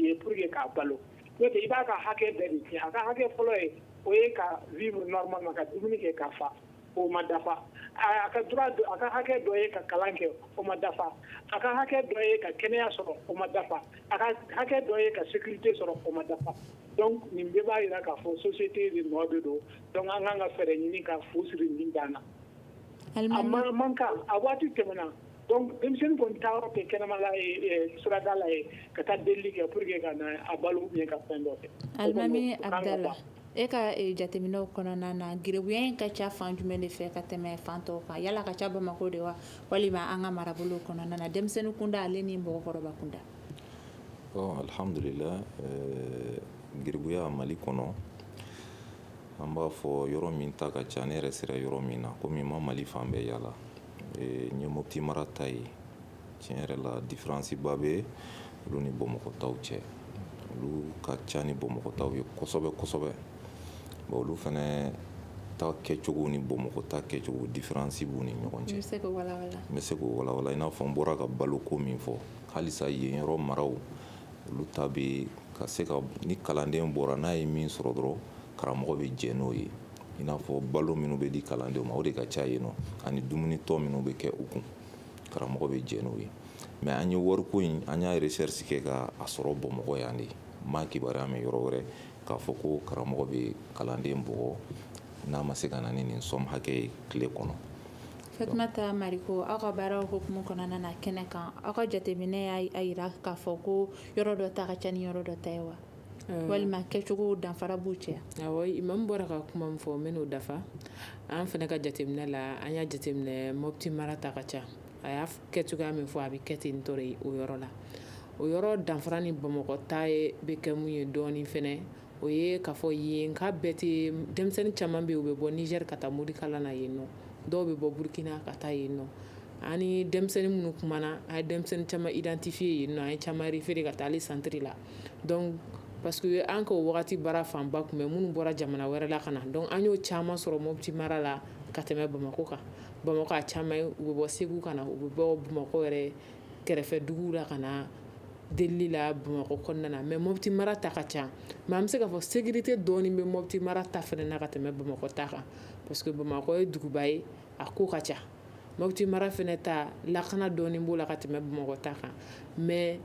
ye pur ye k'a balo i b'a ka hakɛ bɛɛ de kɛ a ka hakɛ fɔlɔ ye o ye ka v ma ka dumuni kɛ ka fa o ma dafa a ka droit a ka hakɛ dɔ ye ka kalan kɛ o ma dafa a ka hakɛ dɔ ye ka kɛnɛya sɔrɔ o ma dafa a ka hakɛ dɔ ye ka sécurité sɔrɔ o ma dafa donc nin bɛɛ b'a yira k'a fɔ société de nɔ de don donc an kan ka fɛɛrɛ ɲini ka fu siri nin dan na man kan a waati tɛmɛna donc denmisɛnnin kɔni taayɔrɔ tɛ kɛnɛma la ye sirada la ye ka taa delili kɛ pour que ka na a balo ou bien ka fɛn dɔ kɛ E ka jateminɛw kɔnɔna na garibuya in ka ca fan jumɛn de fɛ ka tɛmɛ fan tɔw kan yala ka ca bamakɔ de wa walima an ka marabolo kɔnɔna na denmisɛnnin kunda ale ni mɔgɔkɔrɔba kunda alihamdulila garibuya mali kɔnɔ an b'a fɔ yɔrɔ min ta ka ca ne yɛrɛ sera yɔrɔ min na komi n ma mali fan bɛɛ yaala n ye mopti mara ta ye tiɲɛ yɛrɛ la difiransiba bɛ olu ni bamakɔ taw cɛ olu ka ca ni bamakɔ taw ye kosɛbɛ kosɛbɛ bon olu fana ta kɛcogo ni bamakɔ ta kɛcogo difiransi b'u ni ɲɔgɔn cɛ n bɛ se k'o walawala i n'a fɔ n bɔra ka baloko min fɔ halisa yen yɔrɔ maraw olu ta bɛ ka se ka ni kalanden bɔra n'a ye min sɔrɔ dɔrɔn karamɔgɔ bɛ jɛn n'o ye i n'a fɔ balo minnu bɛ di kalandenw ma o de ka ca yen nɔ ani dumunitɔ minnu bɛ kɛ u kun karamɔgɔ bɛ jɛn n'o ye mais an ye wariko in an y'a recherche kɛ ka a sɔrɔ bamakɔ yan de n ma a kibaruya mɛn yɔrɔ wɛrɛ k'a fɔ ko karamɔgɔ bɛ kalanden bugɔ n'a ma se ka na ni nin somme hakɛ ye tile kɔnɔ fatumata mariko aw ka baaraw hukumu kɔnɔna na kɛnɛ kan aw ka jateminɛ y'a jira k'a fɔ ko yɔrɔ dɔ ta ka ca ni yɔrɔ dɔ ta ye wa walima kɛcogo danfara b'u cɛ imamu bɔra ka kuma min fɔ n bɛn'o dafa an fana ka jateminɛ la an y'a jateminɛ mopti mara ta ka ca a y'a kɛ cogoya min fɔ a bɛ kɛ ten tɔɔrɔ ye o yɔrɔ la o yɔrɔ danfara ni bamakɔ ta bɛ kɛ mun ye dɔɔnin fana o ye k'a fɔ yenka bɛɛ tɛ denmisɛnnin caman bɛ yen u bɛ bɔ nizɛri ka taa morikalan na yen nɔ dɔw bɛ bɔ burukina ka taa yen nɔ ani denmisɛnnin minnu tuma na a ye denmisɛnnin caman idantifiye yen nɔ an ye caman référer ka taa ale santiri la donc parce que an ka o waati baara fanba tun bɛ minnu bɔra jamana wɛrɛ la ka na donc an y'o caman sɔrɔ mopti mara la ka tɛmɛ bamakɔ kan bamakɔ a caman u bɛ bɔ segu ka na u bɛ bɔ bamakɔ yɛrɛ kɛrɛfɛ dugu la ka na deli la bamakɔ kɔnɔna na mais mopti mara ta ka ca mais an bɛ se k'a fɔ sécurité dɔɔnin bɛ mopti mara ta fana na ka tɛmɛ bamakɔ ta kan parce que bamakɔ ye duguba ye a ko ka ca mopti mara fana ta lakana dɔɔnin b'o la ka tɛmɛ bamakɔ ta kan mais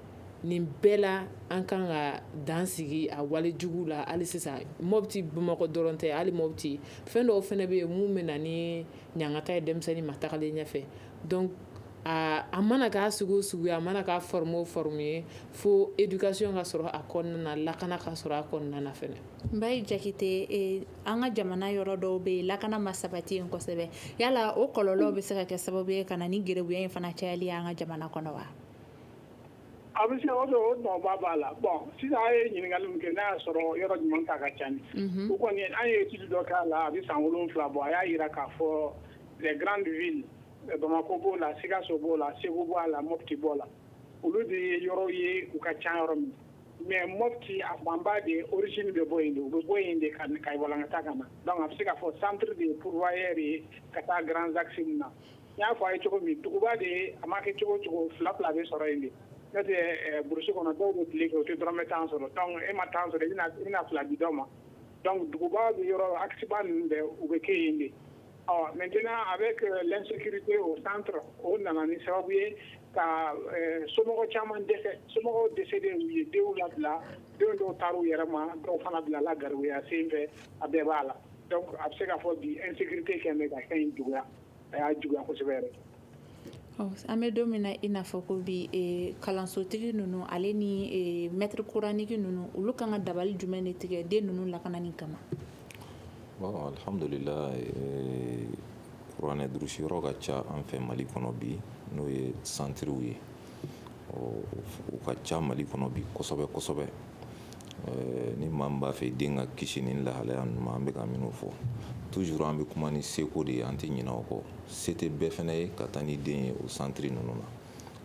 nin bɛɛ la an kan ka dan sigi a wale jugu la hali sisan mopti bamakɔ dɔrɔn tɛ hali mopti fɛn dɔw fana bɛ yen minnu bɛ na ni ɲangata ye denmisɛnnin ma tagalen ɲɛfɛ donc a mana k'a sugu sugu ye a mana k'a forme o forme ye fo éducation ka sɔrɔ a kɔnɔna na lakana ka sɔrɔ a kɔnɔna na fɛ Mbaye jakite an ka jamana yɔrɔ dɔw bɛ yen lakana ma sabati yen kosɛbɛ yala o kɔlɔlɔ bɛ se ka kɛ sababu ye ka na ni garibuya in fana cayali ye an ka jamana kɔnɔ wa a bɛ se o nɔba b'a la bon sisan a ye ɲininkali min kɛ n'a y'a sɔrɔ yɔrɔ jumɛn ta ka ca ni o kɔni an ye étude dɔ k'a la a bɛ san wolonwula bɔ a y'a jira k'a fɔ les grandes villes bamakɔ b'o la sikaso b'o la segu b'o la mopti b'o la olu de ye yɔrɔ ye u ka ca yɔrɔ min Mais Mopti a fanba de origine bɛ bɔ yen de, u bɛ bɔ yen de ka walankata ka na donc a bɛ se k'a fɔ centre de ye pourvoyeur ye ka taa grands axes ninnu na, n y'a fɔ a ye cogo min duguba de a ma kɛ cogo o cogo fila fila bɛ sɔrɔ yen de n'o tɛ brousse kɔnɔ dɔw bɛ tile kɛ u tɛ dɔrɔmɛ tan sɔrɔ donc e ma tan sɔrɔ i bɛna fila di dɔ ma donc duguba bɛ yɔrɔ axe ba ninnu bɛɛ u bɛ kɛ yen de Ɔ maintenant avec l'insécurité au centre o nana ni sababu ye ka somɔgɔw caman dɛsɛ somɔgɔw dɛsɛ de ye denw labila denw dɔw taara u yɛrɛ ma dɔw fana bilala garibuya sen fɛ a bɛɛ b'a la donc a bɛ se k'a fɔ bi insécurité bɛ ka fɛn in juguya a y'a juguya kosɛbɛ An bɛ don min na i n'a fɔ ko bi kalansotigi ninnu ale ni maître coranique ninnu olu kan ka dabali jumɛn de tigɛ den ninnu lakanani kama alhamdulilahi kuranɛ durusi yɔrɔ ka ca an fɛ mali kɔnɔ bi n'o ye centrew ye u ka ca mali kɔnɔ bi kosɛbɛ kosɛbɛ Ɛɛ ni maa min b'a fɛ den ka kisi ni lahalaya ninnu ma, an bɛ ka minnu fɔ toujours an bɛ kuma ni seko de ye, an tɛ ɲinɛ o kɔ, se tɛ bɛɛ fana ye ka taa ni den ye o centre ninnu na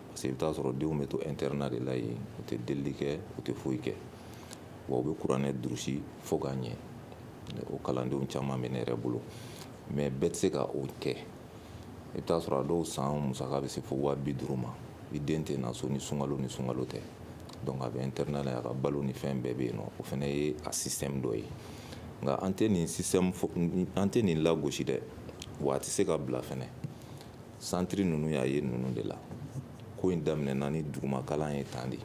parce que i bɛ t'a sɔrɔ denw bɛ to internat de la yen, u tɛ delili kɛ, u tɛ foyi kɛ wa u bɛ kuranɛ durusi fo k'a ɲɛ, o kalandenw caman bɛ ne yɛrɛ bolo. mais bɛɛ tɛ se ka o kɛ i bɛ t'a sɔrɔ a dɔw san musaka bɛ se fo waa bi duuru ma i den tɛ na so ni sunkalo ni sunkalo tɛ donc a bɛ internat la a ka balo ni fɛn bɛɛ bɛ yen nɔ o fana ye a système dɔ ye nka an tɛ nin an tɛ nin lagosi dɛ wa a tɛ se ka bila fana centre ninnu y'a ye ninnu de la ko in daminɛna ni dugumakalan ye tan de ye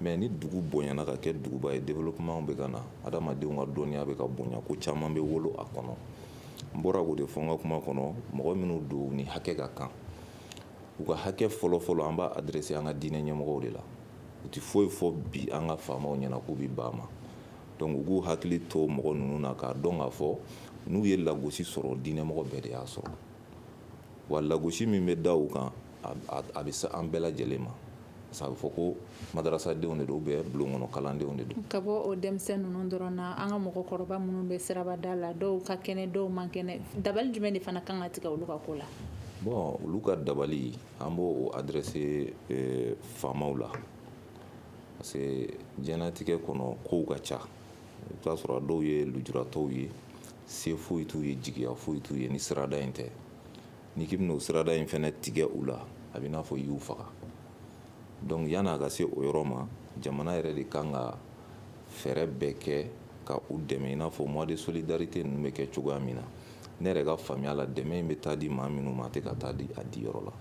Mais ni dugu bonyana ka kɛ duguba ye développement bɛ ka na adamadenw ka dɔnniya bɛ ka bonya ko caman bɛ wolo a kɔnɔ n bɔra k'o de fɔ n ka kuma kɔnɔ mɔgɔ minnu don ni hakɛ ka kan u ka hakɛ fɔlɔfɔlɔ an b'a adressé an ka diinɛ ɲɛmɔgɔw de la u tɛ foyi fɔ bi an ka faamaw ɲɛna k'u bɛ ban a ma donc u k'u hakili to mɔgɔ ninnu na k'a dɔn k'a fɔ n'u ye lagosi sɔrɔ diinɛmɔgɔ bɛɛ de y'a sɔrɔ wa lagosi min bɛ da u kan a bɛ se an bɛɛ lajɛlen ma parce que a bɛ fɔ ko madarasadenw de don bɛɛ bulon kɔnɔ kalandenw de don ka bɔ o denmisɛnnin ninnu dɔrɔn na an ka mɔgɔkɔrɔba minnu bɛ sirabada la dɔw ka kɛnɛ dɔw man kɛnɛ dabali jumɛn de fana kan ka tigɛ olu ka ko la bon olu ka dabali an b'o adressé faamaw la parce que diɲɛlatigɛ kɔnɔ kow ka ca i bɛ t'a sɔrɔ dɔw ye lujuratɔw ye se foyi t'u ye jigiya foyi t'u ye ni sirada in tɛ n'i k'i bɛna o sirada in fana tigɛ u la a bɛ n'a fɔ i y'u faga donc yann'a ka se o yɔrɔ ma jamana yɛrɛ de kan ka fɛɛrɛ bɛɛ kɛ ka u dɛmɛ i n'a fɔ mois de solidarité ninnu bɛ kɛ cogoya min na ne yɛrɛ ka faamuya la dɛmɛ in bɛ taa di maa minnu ma a tɛ ka taa di a diyɔrɔ la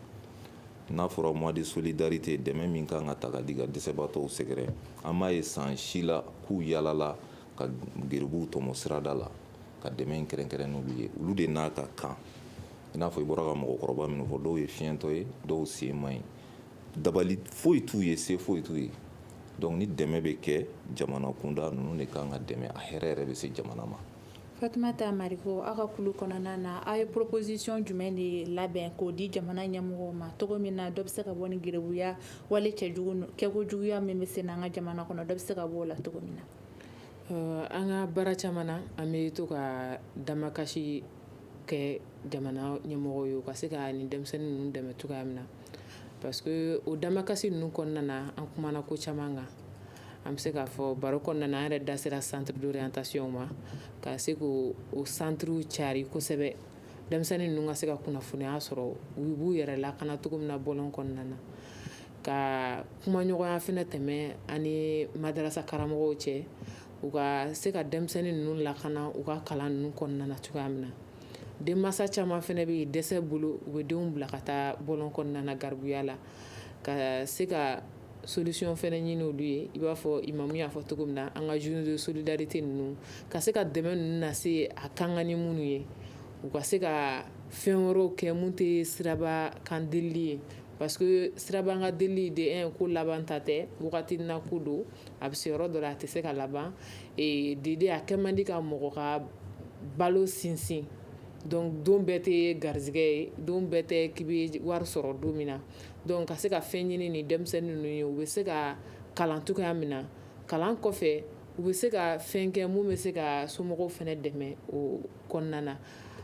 n'a fɔra mois de solidarité dɛmɛ min kan ka ta ka di ka dɛsɛbaatɔw sɛgɛrɛ an m'a ye san si la k'u yalala ka geribuw tɔmɔ sirada la ka dɛmɛ in kɛrɛnkɛrɛn n'olu ye olu de n'a ka kan i n'a fɔ i bɔra ka mɔgɔkɔrɔba minnu fɔ dɔw ye fiɲɛtɔ ye dɔw sen man ɲi dabali foyi t'u ye se foyi t'u ye donc ni dɛmɛ bɛ kɛ jamana kunda ninnu de ka kan ka dɛmɛ a hɛrɛ yɛrɛ bɛ se jamana ma Fatumata Mariko aw ka kulu kɔnɔna na aw ye proposition jumɛn de labɛn k'o di jamana ɲɛmɔgɔw ma cogo min na dɔ bɛ se ka bɔ nin geribuya wale kɛkojuguya min bɛ sen n'an ka jamana kɔnɔ dɔ bɛ se ka bɔ o la cogo min na An ka baara caman na an bɛ to ka damakasi kɛ jamana ɲɛmɔgɔw ye u ka se ka nin denmisɛnnin ninnu dɛmɛ cogoya min na parce que o damakasi ninnu kɔnɔna na an kumana ko caman kan an bɛ se k'a fɔ baro kɔnɔna na an yɛrɛ da sera centre d'orientation ma ka se k'o centrew cari kosɛbɛ denmisɛnnin ninnu ka se ka kunnafoniya sɔrɔ u b'u yɛrɛ lakana cogo min na bɔlɔn kɔnɔna na ka kumaɲɔgɔnya fɛnɛ tɛmɛ ani madarasa karamɔgɔw cɛ u ka se ka denmisɛnnin ninnu lakana u ka kalan ninnu kɔnɔna na cogoya min na denmansa caman fɛnɛ bɛ dɛsɛ bolo u bɛ denw bila ka taa bɔlɔn kɔnɔna na garibuya la ka se ka solution fɛnɛ ɲini olu ye i b'a fɔ imamu y'a fɔ cogo min na an ka journée de solidarité ninnu ka se ka dɛmɛ ninnu lase a kan ka ni minnu ye u ka se ka fɛn wɛrɛw kɛ minnu tɛ siraba kan deli ye parce que siraba kan deli de ye ko labanta tɛ wagati na ko don a bɛ se yɔrɔ dɔ la a tɛ se ka laban ee dede a kɛ man di ka mɔgɔ ka balo sinsin donc don bɛɛ tɛ garisɛgɛ ye don bɛɛ tɛ k'i bɛ wari sɔrɔ don min na donc ka se ka fɛn ɲini ni denmisɛnnin ninnu ye u bɛ se ka kalan cogoya min na kalan kɔfɛ u bɛ se ka fɛn kɛ mun bɛ se ka somɔgɔw fɛnɛ dɛmɛ o kɔnɔna na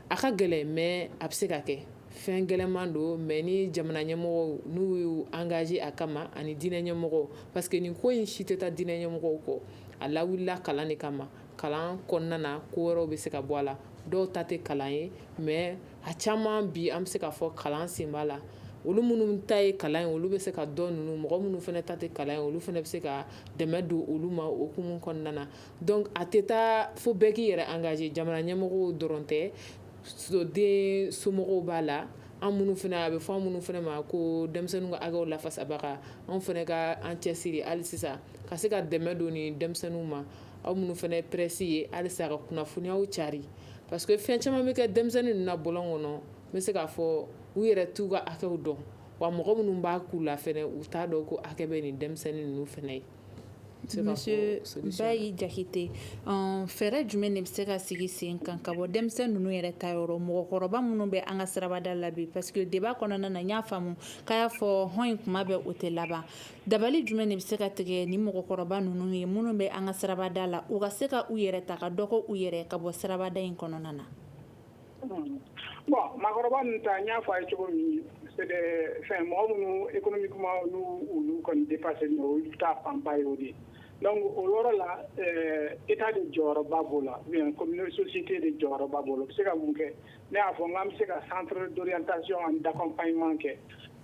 a ka gɛlɛn mais a bɛ se ka kɛ fɛn gɛlɛnman don mais ni jamana ɲɛmɔgɔw n'u y'u engagé a kama ani diinɛ ɲɛmɔgɔw parce que nin ko in si tɛ taa diinɛ ɲɛmɔgɔw kɔ a lawulila kalan de kama kalan kɔnɔna na ko wɛrɛw bɛ se ka bɔ a la dɔw ta tɛ kalan ye mais a caman bi an bɛ se k'a fɔ kalan sen b'a la olu minnu ta ye kalan ye olu bɛ se ka dɔn ninnu mɔgɔ minnu fana ta tɛ kalan ye olu fana bɛ se ka dɛmɛ don olu ma o hukumu kɔnɔna na Donc a tɛ taa fo bɛɛ k'i yɛrɛ engagé jamana ɲɛmɔgɔ dɔrɔn tɛ den somɔgɔw b'a la an minnu fana a bɛ fɔ an minnu fana ma ko denmisɛnninw ka hakɛw lafasabaga anw fana ka an cɛsiri hali sisan ka se ka dɛmɛ don ni denmisɛnninw ma aw minnu fana ye presse ye halisa ka kunnafoniyaw cari parce que fɛn caman bɛ kɛ denmisɛnnin ninnu na bɔlɔn kɔnɔ n bɛ se k'a fɔ u yɛrɛ t'u ka hakɛw dɔn wa mɔgɔ minnu b'a k'u la fana u t'a dɔn ko hakɛ bɛ nin denmisɛnnin ninnu fana ye Bayi Jakite fɛɛrɛ jumɛn de bɛ se ka sigi sen kan ka bɔ denmisɛnnin ninnu yɛrɛ ta yɔrɔ mɔgɔkɔrɔba minnu bɛ an ka sirabada la bi parce que débat kɔnɔna na n y'a faamumu k'a y'a fɔ hɔn in kuma bɛɛ o tɛ laban dabali jumɛn de bɛ se ka tigɛ ni mɔgɔkɔrɔba ninnu ye minnu bɛ an ka sirabada la u ka se ka u yɛrɛ ta ka dɔ k'u yɛrɛ ka bɔ sirabada in kɔnɔna na Bon maakɔrɔba ta n y'a fɔ a ye cogo min fɛn mɔgɔ minnu e kɔni kuma olu kɔni de pase taa fanba ye o de dɔnku o yɔrɔ la e t' de jɔyɔrɔba b'o la kɔmisi tɛ de jɔyɔrɔba bolo bɛ se ka mun kɛ ne y'a fɔ n'an bɛ se ka san dɔrɔn ta an dafa ɲuman kɛ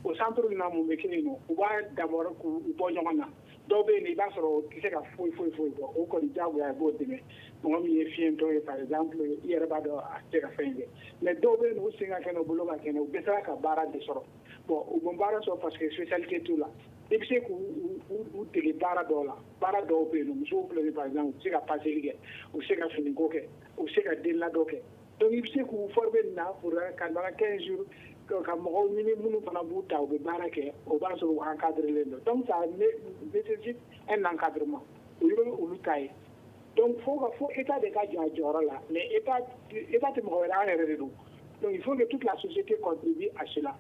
o san duuruuru min mun bɛ kelen u b'a dabɔ k'u bɔ ɲɔgɔn na dɔw bɛ yen i b'a sɔrɔ o tɛ se ka foyi foyi foyi bɔ o kɔni diyagoya a b'o dɛmɛ mɔgɔ min ye fiyentɔ ye par exemple i yɛrɛ b'a dɔn a tɛ ka fɛn in kɛ mais dɔw bɛ yen u sen ka kɛnɛ u bolo ka kɛnɛ u dɛsɛra ka baara de sɔrɔ bon u ma baara sɔrɔ parce que spécialité t'u la i bɛ se k'u dege baara dɔw la baara dɔw bɛ yen musow filɛ nin ye par exemple u bɛ se ka paseli kɛ u bɛ se ka finiko kɛ u bɛ se ka denladon kɛ Donc i bɛ se k'u former nin na pour un ka na 15 jours donc ka mɔgɔw ɲini minnu fana b'u ta u bɛ baara kɛ o b'a sɔrɔ u encadrélen don donc ça nécessite un encadrement o ye olu ta ye donc fo ka fo Etat de ka jɔ a jɔyɔrɔ la mais Etat Etat tɛ mɔgɔ wɛrɛ ye an yɛrɛ de don donc il faut que toute la société contribue à cela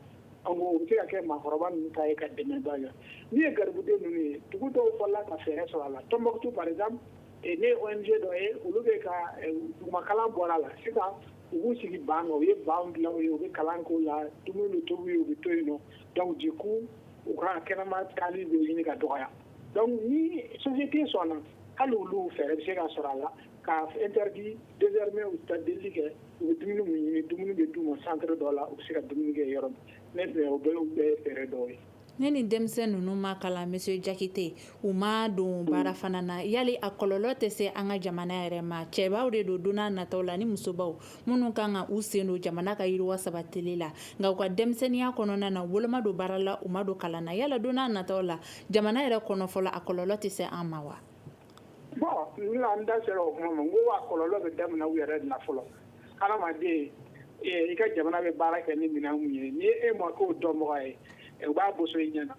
en gros o bɛ se ka kɛ maakɔrɔba ninnu ta ye ka dɛmɛba kɛ min ye garibuden ninnu ye dugu dɔw fɔlɔla ka fɛɛrɛ sɔrɔ a la Tombouctou par exemple n ye ONG dɔ ye olu bɛ ka dugumakalan bɔ a la sisan u b'u sigi ban kan u ye ban dilan u ye u bɛ kalan k'o la dumuni bɛ tobi u ye u bɛ to yen nɔ donc du coup u ka kɛnɛma taali bɛ ɲini ka dɔgɔya donc ni société sɔnna hali olu fɛɛrɛ bɛ se ka sɔrɔ a la ka interdit désormais u tɛ taa delili kɛ u bɛ dumuni min ɲini dumuni bɛ d'u ma centre dɔ la u bɛ se ka dumuni kɛ yɔrɔ min ne fɛ o bɛɛ ye fɛɛrɛ dɔw ye Ne ni denmisɛn ninnu ma kalan monsieur Jakite u ma don baara fana na yali a kɔlɔlɔ tɛ se an ka jamana yɛrɛ ma cɛbaw de don don nataw la ni musobaw minnu kan ka u sen don jamana ka yiriwa sabatili la nka u ka denmisɛnninya kɔnɔna na olu ma don baara la u ma don kalan na yala don nataw la jamana yɛrɛ kɔnɔ fɔlɔ a kɔlɔlɔ tɛ se an ma wa Bɔn da sera o tuma ma ko waa kɔlɔnlɔ bɛ daminɛ u yɛrɛ na fɔlɔ adamaden i ka jamana bɛ baara kɛ ni minɛn ye ni e ma ko dɔnmɔgɔ ye u b'a bo i ɲɛna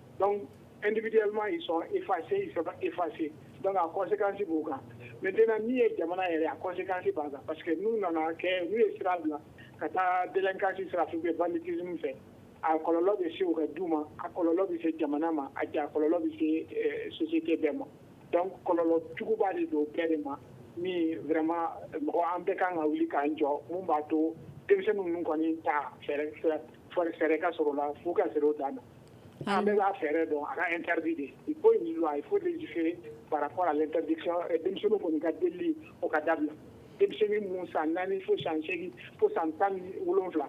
edima y'i sɔn i fase i saba i fase kɔsekansi b'u kan mɛ dɔn min ye jamana yɛrɛ a kɔsekansi b'a kan pa que n'u nana kɛ n'u ye sira bila ka taa bɛnkansi sira bɛ ban kisi fɛ a kɔlɔlɔ bɛ se u ka du ma a kɔlɔlɔ bɛ se jamana ma a kɔlɔlɔ bɛ se eh, société bɛɛ ma donc kɔlɔlɔ juguba de don bɛɛ de ma min vraiment mɔgɔ an bɛɛ kan ka wuli k'an jɔ mun b'a to denmisɛnnin ninnu kɔni ta fɛɛrɛ ka sɔrɔ a la f'u ka sɛrɛ o dan na an bɛɛ b'a fɛɛrɛ dɔn a ka interdit de il faut une loi il faut légiférer par rapport à l'interdiction eh, denmisɛnninw kɔni ka delili o ka dabila denmisɛnnin mun san naani fo san seegin fo san tan ni wolonwula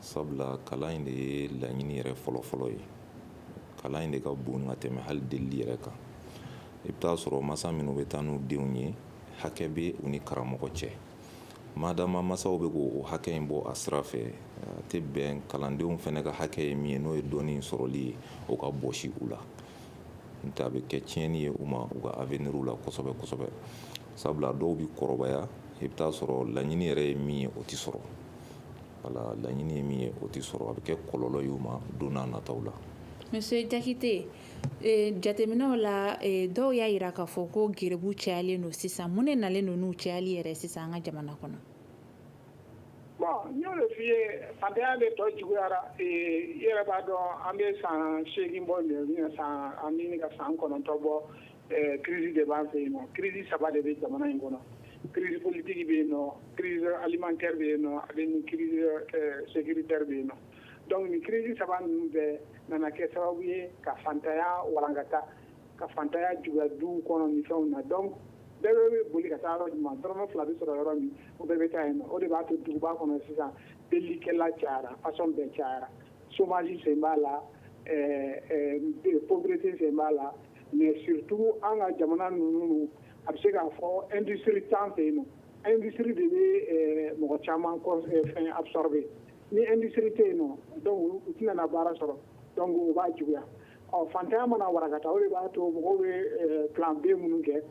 Sabula kalan in de ye laɲini yɛrɛ fɔlɔ fɔlɔ ye kalan in de ka bon ka tɛmɛ hali deli yɛrɛ kan i bɛ t'a sɔrɔ masa minnu bɛ taa n'u denw ye hakɛ bɛ u ni karamɔgɔ cɛ madama masaw bɛ k' o hakɛ in bɔ a sira fɛ a tɛ bɛn kalandenw fana ka hakɛ ye min ye n'o ye dɔnni sɔrɔli ye o ka bɔsi u la n'o tɛ a bɛ kɛ tiɲɛni ye u ma u ka avenir la kosɛbɛ kosɛbɛ sabula dɔw bɛ kɔrɔbaya i bɛ t'a sɔrɔ laɲini yɛrɛ ye min ye o tɛ sɔrɔ Ala laɲini ye min ye o tɛ sɔrɔ a bɛ kɛ kɔlɔlɔ y'u ma don nataw la monsieur Jakite jateminɛw la dɔw y'a jira k'a fɔ ko garibu cayalen don sisan mun ne nalen don n'u cayali yɛrɛ sisan an ka jamana kɔnɔ bon n y'o de f'i ye fantanya de tɔ juguyara i yɛrɛ b'a dɔn an bɛ san seegin bɔ an bɛ ka san kɔnɔntɔn bɔ Crise de b'an fɛ yen nɔ crise saba de bɛ jamana in kɔnɔ crise politique bɛ yen nɔ crise alimentaire bɛ yen nɔ ani crise sécuritaire bɛ yen nɔ donc ni crise saba ninnu bɛɛ nana kɛ sababu ye ka fantanya walankata ka fantanya juguya du kɔnɔ ni fɛnw na donc bɛɛ bɛ bɛ boli ka taa yɔrɔ jumɛn dɔrɔmɛ fila bɛ sɔrɔ yɔrɔ min o bɛɛ bɛ taa yen o de b'a to duguba kɔnɔ sisan delikɛla cayara façon bɛɛ cayara chômage sen b'a la pauvreté sen b'a la mais surtout an ka jamana ninnu a bɛ se k'a fɔ industrie t'an fɛ yen nɔ industrie de bɛ eh, mɔgɔ caman eh, fɛn absorber ni industrie tɛ yen nɔ donc u tɛna na baara sɔrɔ donc o b'a juguya ɔ fantanya mana warakata o de b'a to mɔgɔw bɛ eh, plan B minnu kɛ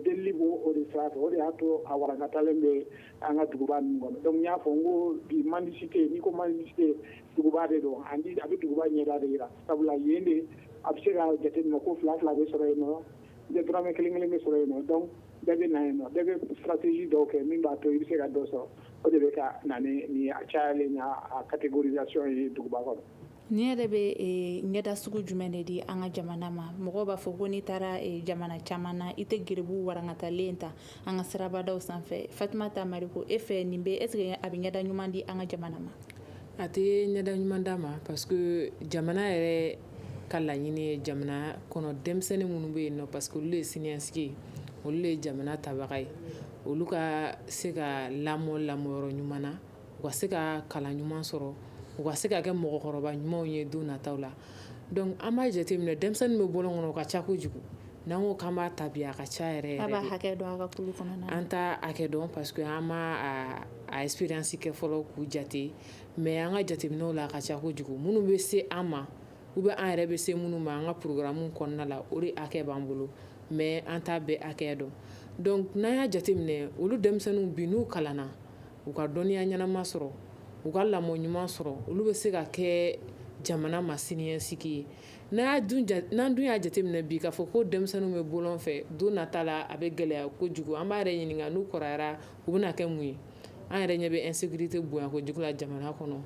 delili b'o o de sira fɛ o de y'a to a warakatalen bɛ an ka duguba ninnu kɔnɔ donc n y'a fɔ n ko bi mendicité n'i ko mendicité duguba de don a bɛ duguba ɲɛda de jira Sabula yen de a bɛ se ka jateminɛ ko fila fila bɛ sɔrɔ yen nɔ dɔrɔmɛ kelen kelen bɛ sɔrɔ yen nɔ donc bɛɛ bɛ na yen nɔ bɛɛ bɛ stratégie dɔw kɛ min b'a to i bɛ se ka dɔ sɔrɔ o de bɛ ka na ni a cayalen a catégorisation ye duguba kɔnɔ nin yɛrɛ bɛ ɲɛda sugu jumɛn de di an ka jamana ma mɔgɔ b'a fɔ ko n'i taara jamana caman na i tɛ garibu warankatalen ta an ka sirabadaw sanfɛ Fatumata Mariko e fɛ nin bɛ est-ce que a bɛ ɲɛda ɲuman di an ka jamana ma a tɛ ɲɛda ɲuman d'a ma parce que jamana yɛrɛ ka laɲini ye jamana kɔnɔ denmisɛnnin minnu bɛ yen nɔ parce que olu ye siniɲɛsigi ye olu ye jamana tabaga ye olu ka se ka lamɔ lamɔ yɔrɔ ɲuman na u ka se ka kalan ɲuman sɔrɔ u ka se ka kɛ mɔgɔkɔrɔba ɲumanw ye don nata la donc an b'a jateminɛ denmisɛnnin bɛ bɔlɔn kɔnɔ o ka ca kojugu n'an ko k'an b'a tabi a ka ca yɛrɛ an t'a hakɛ dɔn parce que an ma a expérience kɛ fɔlɔ k'u jate mais an ka jateminɛw la a ka ca kojugu minnu bɛ se an ma ou bien an yɛrɛ bɛ se minnu ma an ka programme kɔnɔna la o de hakɛ b'an bolo mais an t'a bɛɛ hakɛ dɔn donc n'an y'a jateminɛ olu denmisɛnninw bi n'u kalanna u ka dɔnniya ɲɛnama sɔrɔ u ka lamɔ ɲuman sɔrɔ olu bɛ se ka kɛ jamana ma siniɲɛsigi ye n'a n'an dun y'a jateminɛ bi k'a fɔ ko denmisɛnninw bɛ bɔlɔn fɛ don nata la a bɛ gɛlɛya ko kojugu an b'an yɛrɛ ɲininka n'u kɔrɔyara u bɛna kɛ mun ye an yɛrɛ ɲɛ bɛ insécurité bonya kojugu la jamana kɔnɔ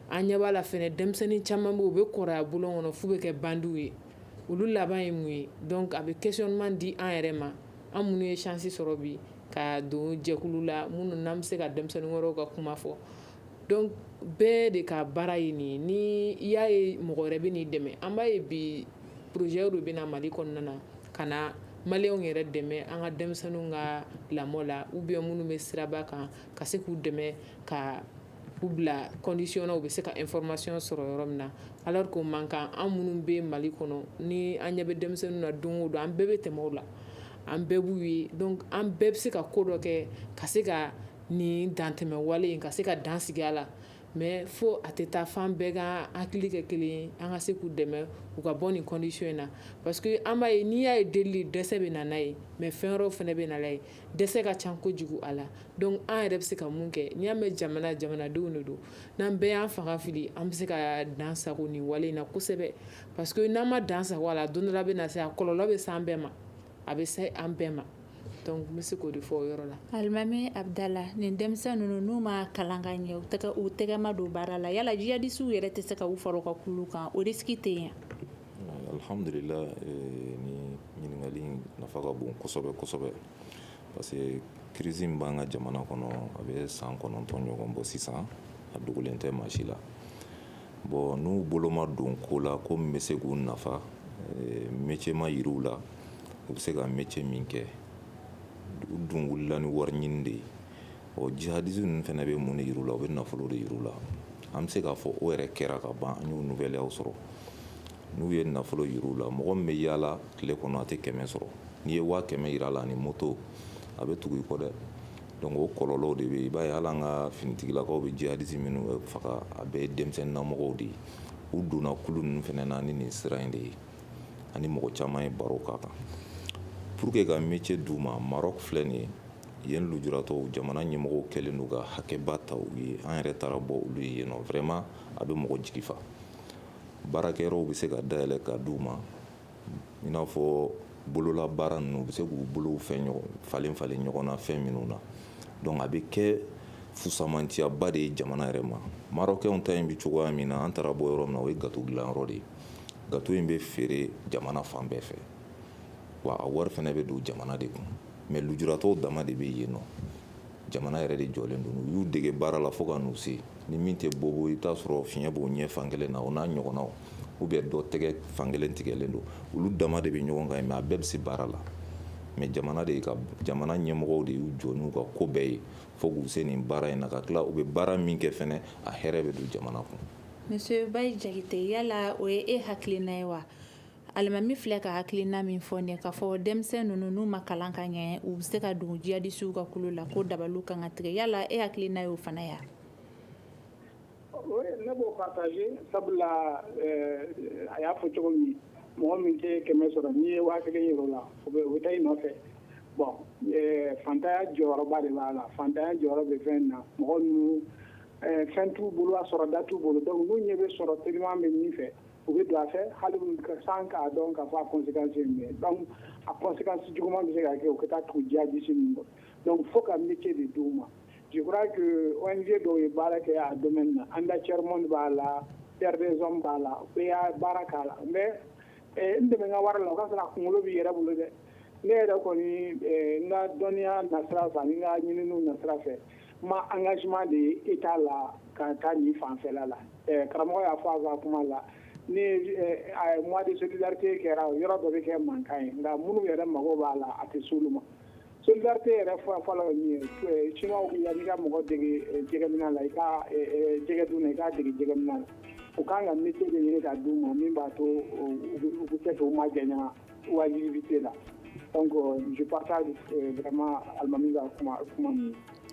an ɲɛ b'a la fɛnɛ denmisɛnnin caman bɛ yen u bɛ kɔrɔya bɔlɔn kɔnɔ f'u bɛ kɛ bandiw ye olu laban ye mun ye donc a bɛ questionnement di an yɛrɛ ma an minnu ye chance sɔrɔ bi ka don jɛkulu la minnu n'an bɛ se ka denmisɛnnin wɛrɛw ka kuma fɔ donc bɛɛ de ka baara ye nin ye ni i y'a ye mɔgɔ wɛrɛ bɛ n'i dɛmɛ an b'a ye bi projet dɔ bɛ na Mali kɔnɔna na ka na maliyɛnw yɛrɛ dɛmɛ an ka denmisɛnninw ka lamɔ la ou bien minnu bɛ siraba kan ka se k'u dɛmɛ ka U bila condition na u bɛ se ka information sɔrɔ yɔrɔ min na alors que o man kan an minnu bɛ mali kɔnɔ ni an ɲɛ bɛ denmisɛnninw na don o don an bɛɛ bɛ tɛmɛ o la an bɛɛ b'u ye an bɛɛ bɛ se ka ko dɔ kɛ ka se ka nin dantɛmɛ wale in ka se ka dan sigi a la mais fo a tɛ taa f'an bɛɛ ka hakili kɛ kelen ye an ka se k'u dɛmɛ u ka bɔ nin condition in na parce que an b'a ye n'i y'a ye delili dɛsɛ bɛ na n'a ye mais fɛn wɛrɛ fana bɛ n'a ye dɛsɛ ka ca kojugu a la dɔnku an yɛrɛ bɛ se ka mun kɛ n'i y'a mɛn jamana jamanadenw de don n'an bɛɛ y'an fanga fili an bɛ se ka dansago nin wale in na kosɛbɛ parce que n'an ma dansago a la don dɔ bɛ na se a kɔlɔlɔ bɛ s'an bɛɛ ma a bɛ se an bɛɛ ma dɔnku n bɛ se k'o de fɔ o yɔrɔ la alimami Abdala nin denmisɛnnin ninnu n'u ma kalan ka ɲɛ u tɛgɛ ma don baara la yala jiyadisiw yɛrɛ tɛ se ka u fara u ka kulu kan o risque tɛ yen Alihamdulila nin ɲininkali nafa ka bon kosɛbɛ kosɛbɛ parce que crise in b'an ka jamana kɔnɔ a bɛ san kɔnɔntɔn ɲɔgɔn bɔ sisan a dogolen tɛ maa si la bɔn n'u bolo ma don ko la ko min bɛ se k'u nafa métier ma yir'u la u bɛ se ka métier min kɛ u dun wulila ni wari ɲini de ye ɔ jihadiste ninnu fana bɛ mun de yir'u la u bɛ nafolo de yir'u la an bɛ se k'a fɔ o yɛrɛ kɛra ka ban an y'olu gɛlɛyaw sɔrɔ n'u ye nafolo yir'u la mɔgɔ min bɛ yaala tile kɔnɔ a tɛ kɛmɛ sɔrɔ n'i ye waa kɛmɛ yir'a la ni moto a bɛ tugu i kɔ dɛ donc o kɔlɔlɔw de bɛ yen i b'a ye hali an ka finitigilakaw bɛ jihadiste minnu faga a bɛɛ ye denmisɛnninnamɔgɔw de ye u donna kulu ninnu fana na ni nin sira in de ye ani mɔgɔ caman ye baro k'a kan pour que ka métier d'u ma Maroc filɛ nin ye Yen lujuratɔw jamana ɲɛmɔgɔw kɛlen don ka hakɛba ta u ye an yɛrɛ taara bɔ olu ye yen nɔ vraiment a bɛ mɔgɔ jigi fa baarakɛyɔrɔw bɛ se ka dayɛlɛ ka d'u ma i n'a fɔ bolola baara ninnu u bɛ se k'u bolofɛn falen falen ɲɔgɔn na fɛn minnu na dɔnku a bɛ kɛ fusamanciyaba de ye jamana yɛrɛ ma marocainw ta in bɛ cogoya min na an taara bɔ yɔrɔ min na o ye gato dilanyɔrɔ de ye gato in bɛ feere jamana fan bɛɛ fɛ wa a wari fana bɛ don jamana de kun mɛ lujuratɔw dama de bɛ yen nɔ jamana yɛrɛ de jɔlen don u y'u dege baara la fo ka n'u se ni min tɛ bobo i bɛ t'a sɔrɔ fiɲɛ b'o ɲɛ fan kelen na o n'a ɲɔgɔnnaw ou bien dɔ tɛgɛ fan kelen tigɛlen don olu dama de bɛ ɲɔgɔn kan yen mɛ a bɛɛ bɛ se baara la mɛ jamana de ka jamana ɲɛmɔgɔw de y'u jɔ n'u ka ko bɛɛ ye fo k'u se nin baara in na ka tila u bɛ baara min kɛ fana a hɛrɛ bɛ don jamana kun Monsieur Jakite yala o ye e hakilina ye wa Alimami filɛ ka hakilina min fɔ nin k'a fɔ denmisɛnnin ninnu n'u ma kalan ka ɲɛ u bɛ se ka don jiyadisiw ka kulu la ko dabaliw ka kan ka tigɛ yala e hakilina ye o fana ya ne b'o partager sabula a y'a fɔ cogo min mɔgɔ min tɛ kɛmɛ sɔrɔ n'i ye waa kelen yir'o la o bɛ taa i nɔfɛ bon fantanya jɔyɔrɔba de b'a la fantanya jɔyɔrɔ bɛ fɛn na mɔgɔ ninnu fɛn t'u bolo a sɔrɔda t'u bolo dɔnku n'u ɲɛ bɛ sɔrɔ teliman bɛ min fɛ u bɛ don a fɛ hali sans k'a dɔn k'a fɔ a kɔnsekansi ye dɔnku a kɔnsekansi juguman bɛ se ka kɛ u ka taa tugu jiyadisi ninnu kɔ dɔnku fo ka métier de d'u ma je crois que ONG dɔw ye baara kɛ a domaine na Enda Tiers Monde b'a la Terre des Hommes b'a la u bɛ baara k'a la mais n dɛmɛ n ka wara la o k'a sɔrɔ a kunkolo b'i yɛrɛ bolo dɛ ne yɛrɛ kɔni eh, n ka dɔnniya nasira fɛ ani n ka ɲininiw nasira fɛ n ma engagement de ye état la ka taa nin fanfɛla la eh, karamɔgɔ y'a fɔ a ka kuma la ni eh, mois de solidarité kɛra yɔrɔ dɔ bɛ kɛ mankan ye nka minnu yɛrɛ mago b'a la a tɛ s'olu ma solidarité yɛrɛ fɔlɔ fɔlɔ ye min ye chinois ko yanni i ka mɔgɔ dege jɛgɛminɛ la i ka jɛgɛ dun na i k'a dege jɛgɛminɛ la u kan ka métier de ɲini ka d'u ma min b'a to u bɛ se k'u majanya mendicité la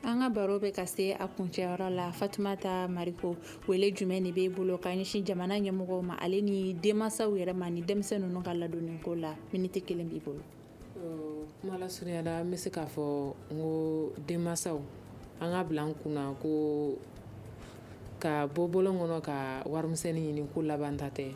an ka baro bɛ ka se a kuncɛyɔrɔ la fatumata mariko wele jumɛn de b'i bolo ka ɲɛsin jamana ɲɛmɔgɔw ma ale ni denmansaw yɛrɛ ma ni denmisɛn ninnu ka ladonni ko la miniti kelen b'i bolo kuma lasurunya la n bɛ se k'a fɔ n ko denmansaw an k'a bila an kunna ko ka bɔ bɔlɔn kɔnɔ ka warimisɛnnin ɲini ko labanta tɛ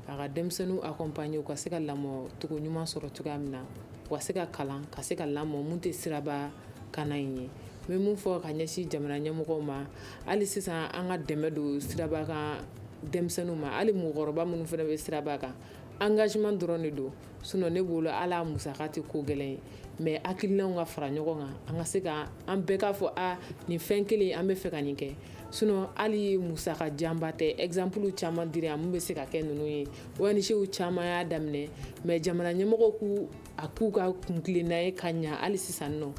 A ka denmisɛnninw accompagner u ka se ka lamɔcogo ɲuman sɔrɔ cogoya min na u ka se ka kalan ka se ka lamɔ min tɛ siraba kanna in ye n bɛ min fɔ ka ɲɛsin jamana ɲɛmɔgɔw ma hali sisan an ka dɛmɛ don siraba kan denmisɛnninw ma hali mɔgɔkɔrɔba minnu fana bɛ siraba kan engagement dɔrɔn de don sinon ne bolo a la musaka tɛ ko gɛlɛn ye mais hakilinaw ka fara ɲɔgɔn kan an ka se ka an bɛɛ k'a fɔ a nin fɛn kelen an bɛ fɛ ka nin kɛ sinon hali musaka janba tɛ exemple caman dira yan min bɛ se ka kɛ ninnu ye ONGw caman y'a daminɛ mais jamana ɲɛmɔgɔw k'a k'u ka kuntilenna ye ka ɲɛ hali sisan nɔ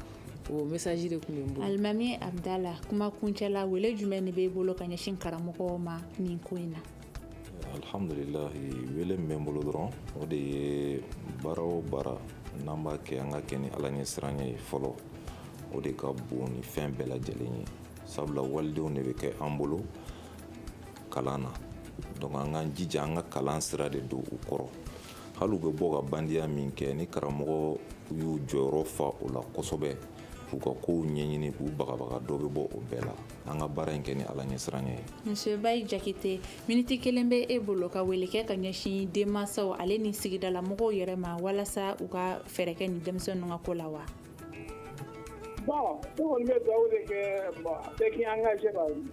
o message de tun bɛ n bolo alimami abdala kuma kuncɛ la wele jumɛn de b'e bolo ka ɲɛsin karamɔgɔw ma nin ko in na alhamdulilahi wele min bɛ n bolo dɔrɔn o de ye baara o baara n'an b'a kɛ an ka kɛ ni ala ɲɛ siran ye fɔlɔ o de ka bon ni fɛn bɛɛ lajɛlen ye sabula walidenw de bɛ kɛ an bolo kalan na donc an k'an jija an ka kalan sira de don u kɔrɔ hali u bɛ bɔ ka bandiya min kɛ ni karamɔgɔ y'u jɔyɔrɔ fa o la kosɛbɛ u ka kow ɲɛɲini k'u bagabaga dɔ bɛ bɔ o bɛɛ la an ka baara in kɛ ni ala ɲɛsiran ye monsieur bayi jakite miniti kelen bɛ e bolo ka wele kɛ ka ɲɛsin denmansaw ale ni sigidala mɔgɔw yɛrɛ ma walasa u ka fɛɛrɛ kɛ ni denmisɛn ninnu ka ko la wa bon ne kɔni bɛ dugawu de kɛ bon bɛɛ k'i engagé ka n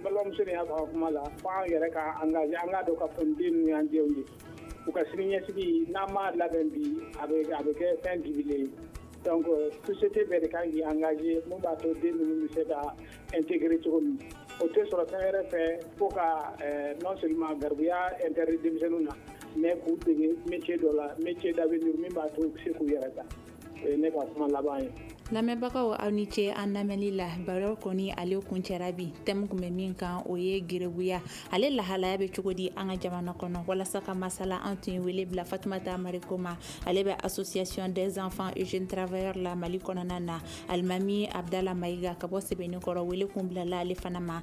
balimamuso nin y'a fɔ a ka kuma la fo an yɛrɛ ka engagé an k'a dɔn k'a fɔ nin den ninnu y'an denw de ye U ka sini ɲɛsigi n'an m'a labɛn bi a bɛ a bɛ kɛ fɛn dibilen ye donc société bɛɛ de kan k'i engager mun b'a to den ninnu bɛ se ka intégrer cogo min o tɛ sɔrɔ fɛn wɛrɛ fɛ fo ka ɛɛ non seulement garibuya interdit denmisɛnninw na mais k'u dege métier dɔ la métier d'avenir min b'a to u bɛ se k'u yɛrɛ ta lamɛnbagaw aw ni ce an lamɛnli la baro kɔni ale kuncɛra bi thème kun bɛ min kan o ye garibuya ale lahalaya bɛ cogo di an ka jamana kɔnɔ walasa ka masala an tun ye wele bila fatumata mariko ma ale bɛ association des enfants et jeunes travailleurs la mali kɔnɔna na alimami abdala mayiga ka bɔ sɛbɛninkɔrɔ wele kun bilala ale fana ma